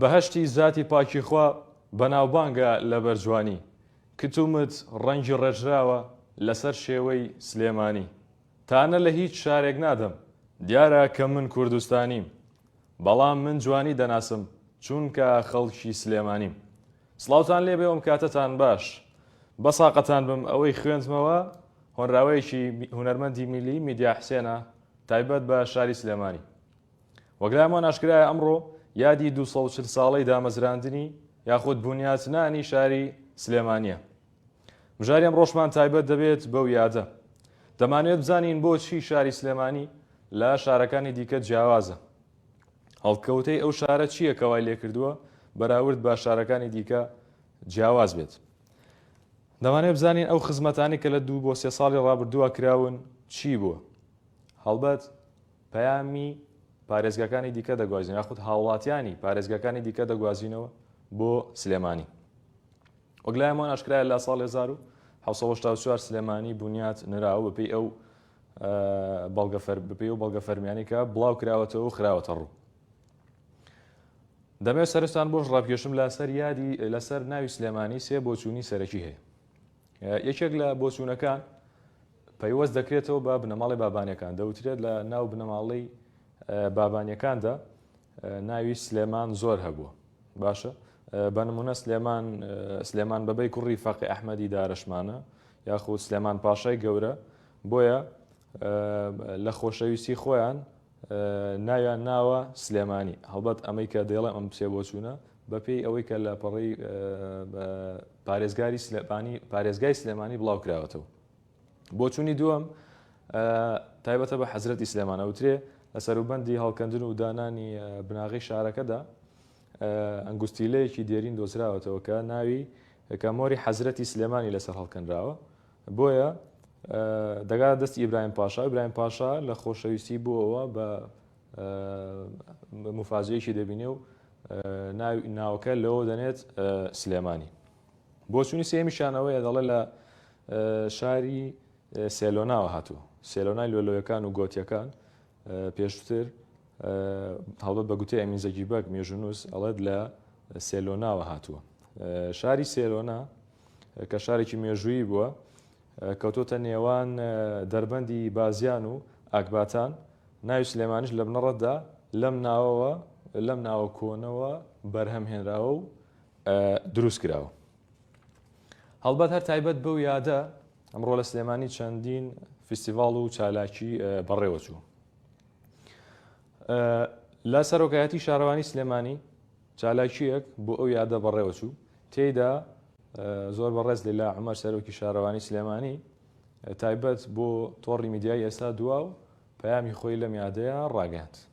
بەهەشتی زاتی پاکی خوا بەناوبانگە لەبەر جوانی کت و مت ڕەنگی ڕێژراوە لەسەر شێوەی سلێمانی تانە لە هیچ شارێک نادەم دیارە کە من کوردستانیم بەڵام من جوانی دەناسم چونکە خەڵکی سلێمانیم سڵاوتان لێبێ وم کاتەتان باش بەساقەتان بم ئەوەی خوێندمەوە هۆنراوەیەکی هونەرمەندی میلی میدیا حسێنە تایبەت بە شاری سلێمانی وەک لای هەمووان ئاشکرایە ئەمڕۆ یادی دوو سەد و چل ساڵەی دامەزراندنی یاخود بونیاتنانی شاری سلێمانییە. بژاری ئەمڕۆشمان تایبەت دەبێت بەو یادە. دەمانەوێت بزانین بۆچی شاری سلێمانی لە شارەکانی دیکە جیاوازە؟ هەڵکەوتەی ئەو شارە چییە کە وای لێکردووە بەراورد بە شارەکانی دیکە جیاواز بێت؟ دەمانێت بزانین ئەو خزمەتانی کە لە دوو بۆ سێ ساڵی ڕابردووە کراون چی بووە؟ هەڵبەت پەیامی پارێزگاکانی دیکە دەگوازینەوە یاخود هاوڵاتیانی پارێزگاکانی دیکە دەگوازینەوە بۆ سلێمانی. وەک لایەمان ئاشکرایە لە ساڵ هەزار و حەوت سەد و هەشتا و چوار سلێمانی بونیات نراوە بەپێی ئەو بەڵگە فەر بەپێی ئەو بەڵگە فەرمیانی کە بڵاو کراوەتەوە و خراوەتە ڕوو. دەمەوێت سەرستان بۆش ڕابکێشم لەسەر یادی لەسەر ناوی سلێمانی سێ بۆچوونی سەرەکی هەیە. یەکێک لە بۆچوونەکان پەیوەست دەکرێتەوە بە بنەماڵەی بابانیەکان، دەوترێت لە ناو بنەماڵەی بابانیەکاندا ناوی سلێمان زۆر هەبووە باشە بە نمونە سلێمان سلێمان بەبەی کوڕی فەقی ئەحمەدی دارشمانە یاخود سلێمان پاشای گەورە بۆیە لە خۆشەویستی خۆیان ناویان ناوە سلێمانی هەڵبەت ئەمەی کە دەڵێ ئەم پسێ بۆ چوونە بەپێی ئەوەی کە لە پەڕی پارێزگاری سلێمانی پارێزگای سلێمانی بڵاو کراوەتەوە بۆچوونی دووەم تایبەتە بە حەزرەتی سلێمان ئەوترێ لە سەروبەندی هەڵکەندن و دانانی بناغی شارەکەدا ئەنگوستیلەیەکی دێرین دۆزراوەتەوە کە ناوی کە مۆری حەزرەتی سلێمانی لەسەر هەڵکەنراوە بۆیە دەگا دەستی ئیبراهیم پاشا ئیبراهیم پاشا لە خۆشەویستی بووەوە بە مفاجەیەکی دەبینێ و ناوکە لەوە دەنێت سلێمانی بۆچوونی سێیەمیشیان ئەوەیە دەڵێ لە شاری سێلۆناوە هاتووە سێلۆنای لۆلۆیەکان و گۆتیەکان پێشتر هەڵبەت بە گوتەی ئەمین زەگی بەگ مێژونوس ئەڵێت لە سێلۆناوە هاتووە شاری سێلۆنا کە شارێکی مێژوویی بووە کەوتۆتە نێوان دەربەندی بازیان و ئاکباتان ناوی سلێمانش لە بنەڕەتدا لەم ناوەوە لەم ناوە کۆنەوە بەرهەم هێنراوە و دروستکراوە. هەڵبەت هەر تایبەت بەو یادە، ئەمڕۆ لە سلێمانی چەندین فیستیڤاڵ و چالاکی بەڕێوەچوو. لە سەرۆکایەتی شارەوانی سلێمانی چالاکیەک بۆ ئەو یادە بەڕێوەچوو تێیدا زۆر بەڕێز لەلا عمەر سەرۆکی شارەوانی سلێمانی تایبەت بۆ تۆڕی میدیای ئێستا دوا و پەیامی خۆی لەم یادەیە ڕاگەاند.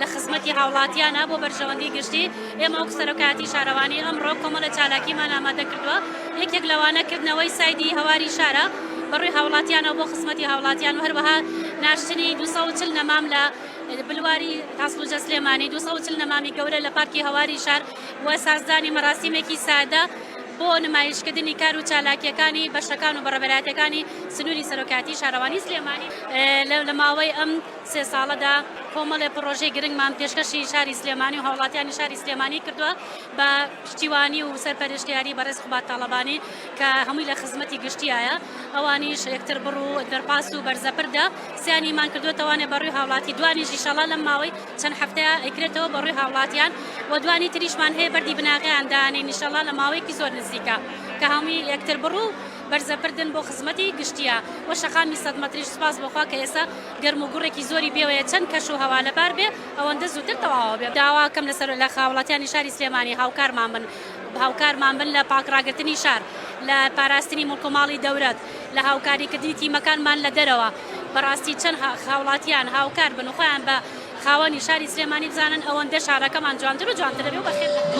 لە خزمەتی هاوڵاتیانە بۆ بەرژەوەندی گشتی، ئێمە وەک سەرۆکایەتی شارەوانی ئەمڕۆ کۆمەڵە چالاکیمان ئامادە کردووە، یەکێک لەوانە کردنەوەی سایدی هەواری شارە بەڕووی هاوڵاتیانەوە بۆ خزمەتی هاوڵاتیان و هەروەها ناشتنی دوو سەد و چل نەمام لە بلواری هەسڵوجە سلێمانی دوو سەد و چل نەمامی گەورە لە پارکی هەواری شار و سازدانی مەراسیمێکی سادە بۆ نمایشکردنی کار و چالاکیەکانی بەشەکان و بەڕێوەبەرایەتیەکانی سنوری سەرۆکایەتی شارەوانی سلێمانی لە ماوەی ئەم سێ ساڵەدا کۆمەڵێ پڕۆژەی گرنگمان پێشکەشی شاری سلێمانی و هاوڵاتیانی شاری سلێمانی کردووە بە پشتیوانی و سەرپەرشتیاری بەڕێز قوباد تاڵەبانی کە هەمووی لە خزمەتی گشتیایە ئەوانیش یەکتر بڕ و دەرپاس و بەرزەپردە سیانیمان کردووەتەوانێ بەڕووی هاوڵاتی دوانیش ئیشەڵا لەم ماوەی چەند هەفتەیە ئەیکرێتەوە بەڕووی هاوڵاتیان و دوانی تریشمان هەیە بەردی بناغەیان دانێین ئیشەڵا لە ماوەیەکی زۆر نزیکە کە هەمووی یەکتر بڕ و بەرزەبردن بۆ خزمەتی گشتیە و شەقامی سەد مەتریش سوپاس بۆ خوا کە ئێستا گەرم و گوڕێکی زۆری بێوەیە چەند کەش و هەوا لەبار بێ ئەوەندە زووتر تەواوە بێ داواکەم لە سەر لە خاوڵاتیانی شاری سلێمانی هاوکارمان بن هاوکارمان بن لە پاک ڕاگرتنی شار لە پاراستنی موڵک و ماڵی دەورەت لە هاوکاری کردنی تیمەکانمان لە دەرەوە بەڕاستی چەند خاوڵاتیان هاوکار بن و خۆیان بە خاوەنی شاری سلێمانی بزانن ئەوەندە شارەکەمان جوانتر و جوانتر دەبێ و بەخێر دەبێ.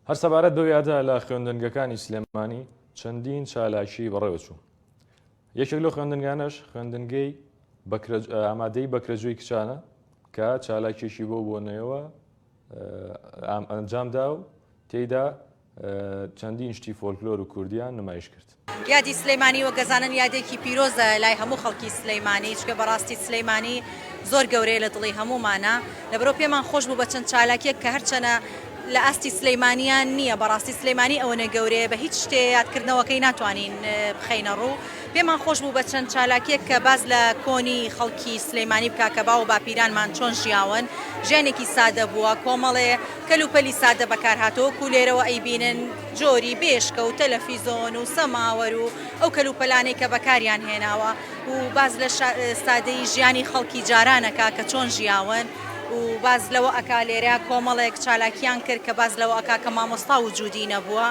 هەر سەبارەت بەو یادە لە خوێندنگەکانی سلێمانی چەندین چالاکی بەڕێوە چوو یەکێک لەو خوێندنگانەش خوێندنگەی ئامادەی بەکرەجوی کچانە کە چالاکێکی بۆ بۆنەوە ئەنجامدا و تێیدا چەندین شتی فۆلکلۆر و کوردیان نمایش کرد. یادی سلیمانی وەک دەزانن یادێکی پیرۆزە لای هەموو خەڵکی سلیمانی چکە بەڕاستی سلیمانی زۆر گەورەیە لە دڵی هەموومانە لەبەرەو پێمان خۆش بوو بە چەند چالاکیەک کە هەرچەنە لە ئاستی سلیمانیان نییە بەڕاستی سلیمانی ئەوەنە گەورەیە بە هیچ شتێ یادکردنەوەکەی ناتوانین بخینە ڕوو پێمان خۆش بوو بە چەند چالاکیەک کە باز لە کۆنی خەڵکی سلیمانی بکە کە باو باپیرانمان چۆن ژیاون ژیانێکی سادە بووە کۆمەڵێ کەلوپەلی سادە بەکارهاتووە وەکو لێرەوە ئەیبینن جۆری بێشکە و تەلەفیزۆن و سەماوەر و ئەو کەلوپەلانەی کە بەکاریان هێناوە و باس لە سادەیی ژیانی خەڵکی جاران ئەکا کە چۆن ژیاون و باس لەوە ئەکا لێرە کۆمەڵێک چالاکیان کرد کە باس لەوە ئەکا کە مامۆستا وجودی نەبووە.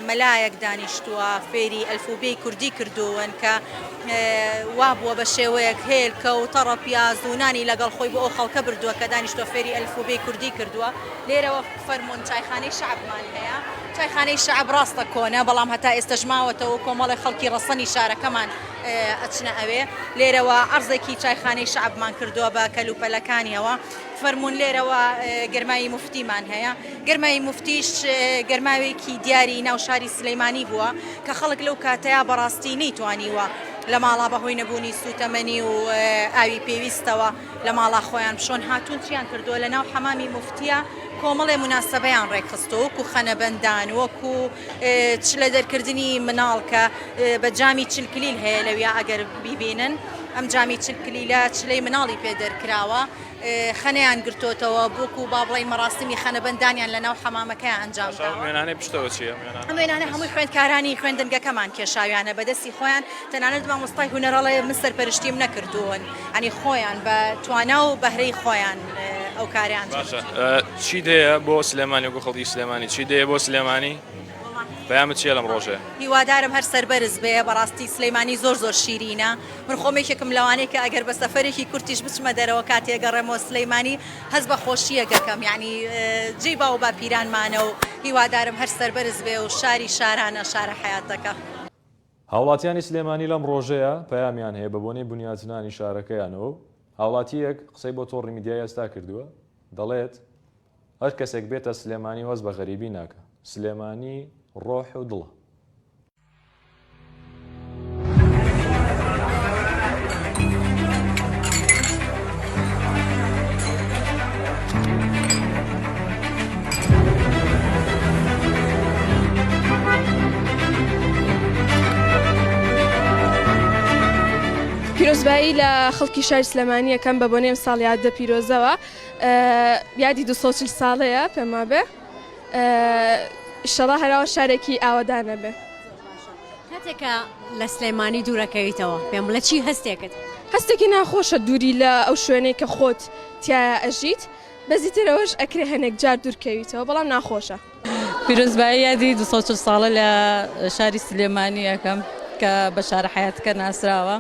مەلایەک دانیشتووە فێری ئەلفوبێی کوردی کردوون کە وا بووە بە شێوەیەک هێلکە و تەڕە پیاز و نانی لەگەڵ خۆی بۆ ئەو خەڵکە بردووە کە دانیشتوە فێری ئەلفوبێی کوردی کردووە لێرەوە فەرموون چایخانەی شەعبمان هەیە چایخانەی شەعب ڕاستە کۆنە بەڵام هەتا ئێستەش ماوەتەوە و کۆمەڵی خەڵکی ڕەسەنی شارەکەمان ئەچنە ئەوێ لێرەوە عەرزێکی چایخانەی شەعبمان کردووە بە کەلوپەلەکانیەوە فەرموون لێرەوە گەرماوی موفتیمان هەیە، گەرماوی موفتیش گەرماوێکی دیاری ناو شاری سلیمانی بووە کە خەڵک لەو کاتەیا بەڕاستی نەیتوانیوە لە ماڵا بەهۆی نەبوونی سووتەمەنی و ئاوی پێویستەوە لە ماڵا خۆیان بشۆن هاتوون چیان کردووە لە ناو حەمامی موفتیا کۆمەڵێ موناسەبەیان ڕێکخستووە وەکوو خەنەبەندان وەکوو چ لە دەرکردنی مناڵ کە بە جامی چل کلیل هەیە لەویا ئەگەر بیبینن ئەم جامی چل کلیلە چلەی مناڵی پێ دەرکراوە خەنەیان گرتۆتەوە بۆکو با بڵین مەراسمی خەنە بەندانیان لە ناو حەمامەکەیان ئەنجام داوە. ئەم وێنانەی پشتەوە چیە؟ ئەم وێنانە هەمووی خوێندکارانی خوێندنگەکەمان کێشاویانە بە دەستی خۆیان تەنانەت مامۆستای هونەر ئەڵێ من سەرپەرشتیم نەکردوون ئەنی خۆیان بە توانا و بەهرەی خۆیان ئەو کاریان باشە چی دەیە بۆ سلێمانی وەکو خەڵکی سلێمانی چی دەیە بۆ سلێمانی پەیامت چیە لەم ڕۆژێ هیوادارم هەر سەربەرز بێ بەڕاستی سلەیمانی زۆر زۆر شیرینە من خۆمێکێکم لەوانەیە کە ئەگەر بە سەفەرێکی کورتیش بچمە دەرەوە کاتێ گەڕێمەوە سلەیمانی هەست بە خۆشیە گەکەم یعنی جێی باو باپیرانمانە و هیوادارم هەر سەربەرز بێ و شاری شارانە شارە حیاتەکە. هاوڵاتیانی سلێمانی لەم ڕۆژەیە پەیامیان هەیە بەبۆنەی بنیاتنانی شارەکەیانەوە و هاوڵاتییەک قسەی بۆ تۆڕی میدیای ئێستا کردووە دەڵێت هەر کەسێک بێتە سلێمانی هەست بە غەریبی ناکا سلێمانی ڕۆح و دڵە. پیرۆزبایی لە خەڵکی شاری سلێمانی یەکەم بە بۆنێم ساڵ یادە پیرۆزەوە یادی 240 ساڵەیە پێما بێ شەڵا هەراوە شارێکی ئاوادانە بێ کاتێک کە لە سلێمانی دوورەکەویتەوە پێم بڵێ چی هەستێکت. هەستێکی ناخۆشە دووری لە ئەو شوێنەی کە خۆت تیایا ئەژیت بەزیتر ئەوەش ئەکرێ هەنێک جار دوورکەویتەوە بەڵام ناخۆشە. پیرۆزبایی یادی دوو سەد و چل ساڵە لە شاری سلێمانی ئەکەم کە بە شارە حەیاتەکە ناسراوە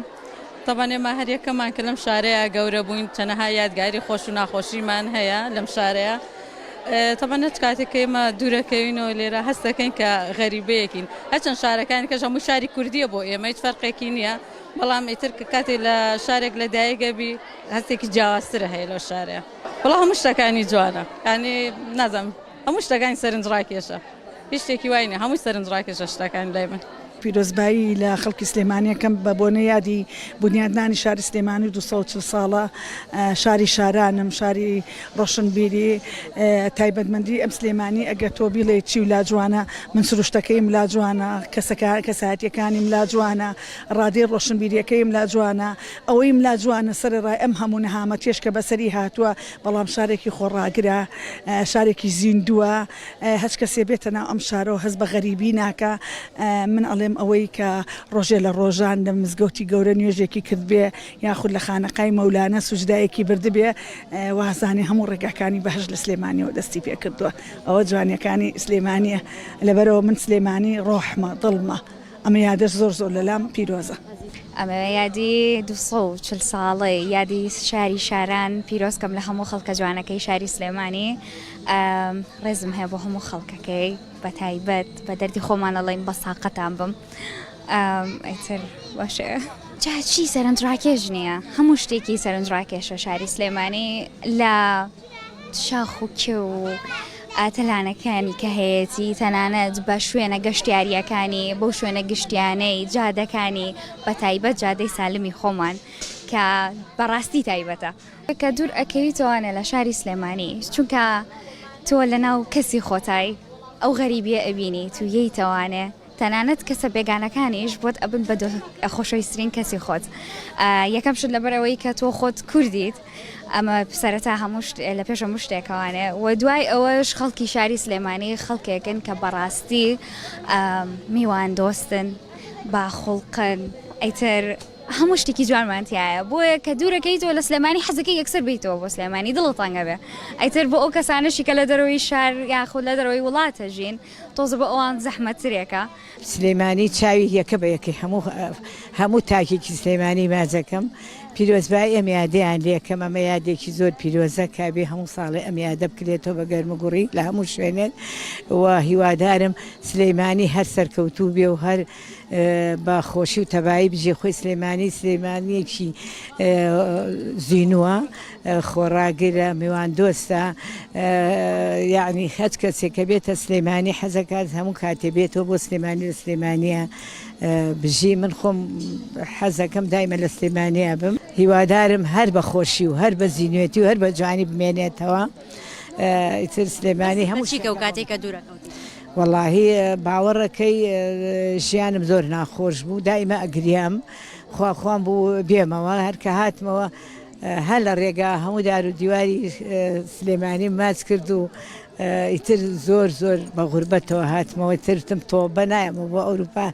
تەبەن ئێمە هەر یەکەمان کە لەم شارەیە گەورە بووین چەنەها یادگاری خۆش و ناخۆشیمان هەیە لەم شارەیە تەبعەن هەچ کاتێک کە ئێمە دوورەکەوینەوە لێرە هەست دەکەین کە غەریبەیەکین هەچەند شارەکانی کەش هەموو شاری کوردیە بۆ ئێمە هیچ فەرقێکی نییە بەڵام ئیتر کە کاتێ لە شارێک لە دایگەبی هەستێکی جیاوازترە هەیە لەو شارەیە بەڵام هەموو شتەکانی جوانە ینی نازم هەموو شتەکانی سەرنج ڕاکێشە. هیچ شتێکی وای نیە هەمووی سەرنجڕاکێشە شتەکان لای من. پیرۆزبایی لە خەڵکی سلێمانی ئەکەم بە بۆنەی یادی بونیادنانی شاری سلێمانی و دوو سەد و چل ساڵە شاری شارانم شاری ڕۆشنبیری تایبەتمەندی ئەم سلێمانی ئەگەر تۆ بیڵێ چی و لاجوانە من سروشتەکەیم لاجوانە کەسەکە کەسایەتیەکانیم لاجوانە ڕادەی ڕۆشنبیریەکەیم لاجوانە ئەوەیم لاجوانە سەرڕای ئەم هەموو نەهامەتیش کە بەسەری هاتووە بەڵام شارێکی خۆڕاگرە شارێکی زیندووە هەچکەسێ بێتە ناو ئەم شارەوە هەست بە غەریبی ناکا من ئەڵێم ئەوەی کە ڕۆژێ لە ڕۆژان لە مزگەوتی گەورە نوێژێکی کردبێ یاخود لە خانەقای مەولانە سوجدایەکی بردبێ وازانێ هەموو ڕێگاکانی بەهەشت لە سلێمانیەوە دەستی پێ کردووە ئەوە جوانیەکانی سلێمانیە لەبەرەوە من سلێمانی ڕۆحمە دڵمە ئەمە یادە زۆر زۆر لەلام پیرۆزە. ئەمە یادی دوو سەد و چل ساڵەی یادی شاری شاران پیرۆز کەم لە هەموو خەڵکە جوانەکەی شاری سلێمانی ڕێزم هەیە بۆ هەموو خەڵکەکەی بە تایبەت بە دەردی خۆمان ئەڵێن بەس تاقەتان بم ئیتر باشە. جا چی سەرنجڕاکێش نییە هەموو شتێکی سەرنجڕاکێشە شاری سلێمانی لە. شاخ و کێو و تەلانەکانی کە هەیەتی تەنانەت بە شوێنە گەشتیارییەکانی بۆ شوێنە گشتیانەی جادەکانی بە تایبەت جادەی سالمی خۆمان کە بەڕاستی تایبەتە کە دوور ئەکەوی تۆوانە لە شاری سلێمانی چونکە تۆ لە ناو کەسی خۆتای ئەو غەریبیە ئەبینی تویەی تەوانێ تەنانەت کەسە بێگانەکانیش بۆت ئەبن بە خۆشەویسترین کەسی خۆت یەکەم شت لەبەر ئەوەی کە تۆ خۆت کوردیت ئەمە سەرەتا هەموو لە پێش هەموو شتێکەوانێ و دوای ئەوەش خەڵکی شاری سلێمانی خەڵکێکن کە بەڕاستی میوان دۆستن باخڵقن ئەیتر هەموو شتێکی جوانمانتیایە بۆیە کە دوورەکەی تۆ لە سلێمانی حەزەکە یەکسەر بیتەوە بۆ سلێمانی دڵ تەنگەبێ ئەیتر بۆ ئەو کەسانەشی کە لە دەرەوەی شار یاخود لە دەرەوەی وڵاتە ژین تۆزە بۆ ئەوان زەحمەت ترێکە. سلیمانی چاوی یەکە بە یەکەی هەموو هەموو تاکێکی سلیمانی باجەکەم پیرۆزبایی ئەم یادەیان لێکەم ئەمە یادێکی زۆر پیرۆزە کابێ هەموو ساڵێ ئەم یادە بکرێتەوە بە گەرموگوڕی لە هەموو شوێنێک و هیوادارم سلیمانی هەر سەرکەوتوو بێ و هەر بە خۆشی و تەبایی بژی خۆی سلێمانی سلێمانیەکی زینوە خۆڕاگرە میوان دۆستە یعنی خەج کەسێک کە بێتە سلێمانی حەزەکات هەموو کاتێ بێتەوە بۆ سلێمانی لە سلێمانە بژی من خۆم حەزەکەم دایمە لە سلێمانە بم هیوادارم هەر بە خۆشی و هەر بە زینوێتی و هەر بە جوانی بمێنێتەوە ئیتر سلێمانی هەموو شیکە و کاتێکە دوورەکەوت وەڵاهی باوەڕەکەی ژیانم زۆر ناخۆش بوو دایمە ئەگریام خوا خوام بوو بێمەوە هەر کە هاتمەوە هە لە ڕێگا هەموو دار و دیواری سلێمانی ماچ کرد و ئیتر زۆر زۆر بە غوربەتەوە هاتمەوە ترتم تۆبە نایەمەوە بۆ ئەوروپا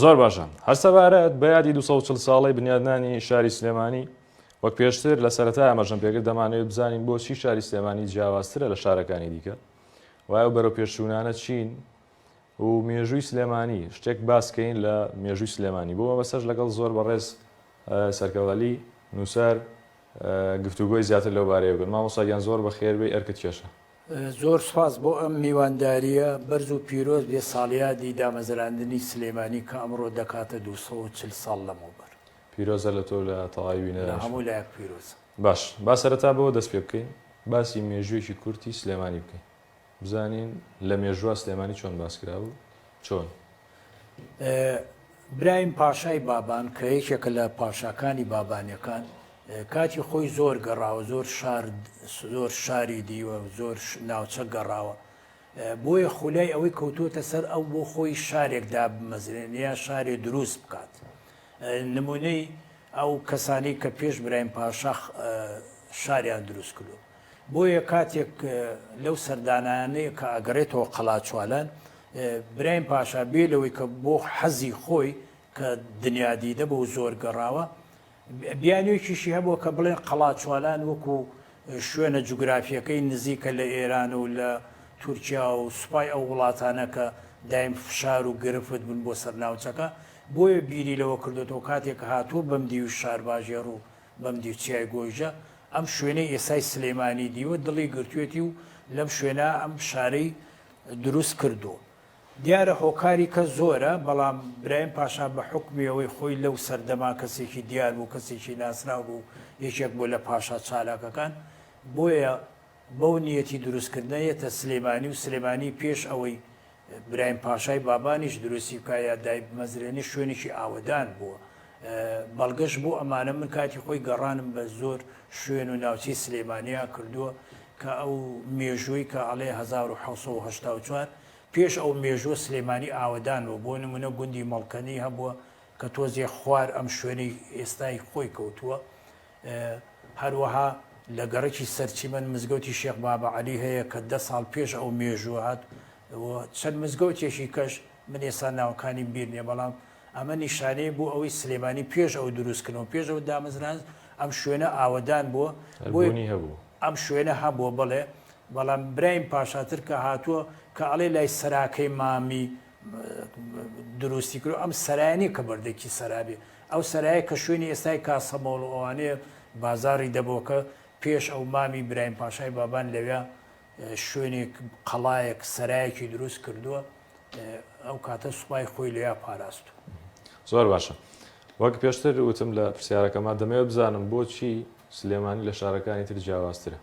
زۆر باشە هەر سەبارەت بە یادی 240 ساڵەی بنیادنانی شاری سلێمانی وەک پێشتر لە سەرەتا ئەمەژەم پێگر دەمانەوێت بزانین بۆچی شاری سلێمانی جیاوازترە لە شارەکانی دیکە وایە و بەرەو پێشوونانە چین و مێژووی سلێمانی شتێک باسکەین لە مێژووی سلێمانی بۆ مەبەسەش لەگەڵ زۆر بەڕێز سەرکەڵەلی نووسەر گفتوگۆی زیاتر لەو بارەیە بن مامۆساگیان زۆر بە خێربێ ئەرکت کێشە زۆر سوپاس بۆ ئەم میواندارییە بەرز و پیرۆز بێت ساڵیادی دامەزراندنی سلێمانی کە ئەمڕۆ دەکاتە دوو سەد و چل ساڵ لەمەوبەر. پیرۆزە لە تۆ و لە تەواوی بینەرانیش. لە هەموو لایەک پیرۆزە. باش با سەرەتا بەوە دەست پێ بکەین باسی مێژووێکی کورتی سلێمانی بکەین بزانین لە مێژووا سلێمانی چۆن باس کرا و چۆن؟ برایم پاشای بابان کە یەکێکە لە پاشاکانی بابانیەکان کاتی خۆی زۆر گەڕاوە زۆر شار زۆر شاری دیوە زۆر ناوچە گەڕاوە بۆیە خولای ئەوەی کەوتوتە سەر ئەو بۆ خۆی شارێک دابمەزرێن یا شارێ دروست بکات نمونەی ئەو کەسانی کە پێش برایم پاشاخ شاریان دروست کردو بۆیە کاتێک لەو سەردانانەیە کە ئەگەڕێتەوە قەڵاچوالان، برایم پاشا بێ لەوەی کە بۆ حەزی خۆی کە دنیادیدە بوو و زۆر گەڕاوە، بیانوێکیشی هەبووە کە بڵێن قەڵاچوالان وەکوو شوێنە جوگرافییەکەی نزیکە لە ئێران و لە تورکیا و سوپای ئەو وڵاتانە کە دایم فشار و گرفت بوون بۆ سەر ناوچەکە، بۆیە بیری لەوە کردۆتەوە کاتێک هاتووە بەم دیوی شارباژێڕ و بەم دیو چیای گۆیژە ئەم شوێنەی ئێستای سلێمانی دیوە دڵی گرتوێتی و لەم شوێنە ئەم شارەی دروست کردووە. دیارە هۆکاری کە زۆرە، بەڵام برایم پاشا بە حوکمی ئەوەی خۆی لەو سەردەمە کەسێکی دیار بوو، کەسێکی ناسراو بوو، یەکێک بوو لە پاشا چالاکەکان، بۆیە بەو نیەتی دروست کردنە یەتە سلێمانی و سلێمانی پێش ئەوەی برایم پاشای بابانیش دروستی بکا یا دایبمەزرێنێ شوێنێکی ئاوەدان بووە بەڵگەش بۆ ئەمانە من کاتی خۆی گەڕانم بە زۆر شوێن و ناوچەی سلێمانیا کردووە کە ئەو مێژووی کە ئەڵێ 1970 پێش ئەو مێژووە سلێمانی ئاوەدانەوە بۆ نمونە گوندی مەڵکەنی هەبووە کە تۆزێ خوار ئەم شوێنەی ئێستای خۆی کەوتووە هەروەها لە گەڕەکی سەرچیمەن مزگەوتی شێخ بابە عەلی هەیە کە دە ساڵ پێش ئەو مێژووە هات و چەند مزگەوتێکی کەش من ئێستا ناوەکانیم بیر نییە بەڵام ئەمە نیشانەیە بۆ ئەوەی سلێمانی پێش ئەو دروستکردنەوە پێش ئەو دامەزران ئەم شوێنە ئاوەدان بووە بۆی بوونی هەبوو ئەم شوێنە هەبووە بڵێ بەڵام برایم پاشاتر کە هاتووە کە ئەڵێ لای سەراکەی مامی دروستی کرد ئەم سەرانی کە بەردەکی سەرابێ ئەو سەرایە کە شوێنی ئێستای کاسەمەڵ و ئەوانەیە بازاری دەبۆکە پێش ئەو مامی برایم پاشای بابان لەوێ شوێنێک قەڵایەک سەرایەکی دروست کردووە ئەو کاتە سوپای خۆی لێیا پاراست و زۆر باشە وەک پێشتر وتم لە پرسیارەکەما دەمەوێت بزانم بۆچی سلێمانی لە شارەکانی تر جیاوازترە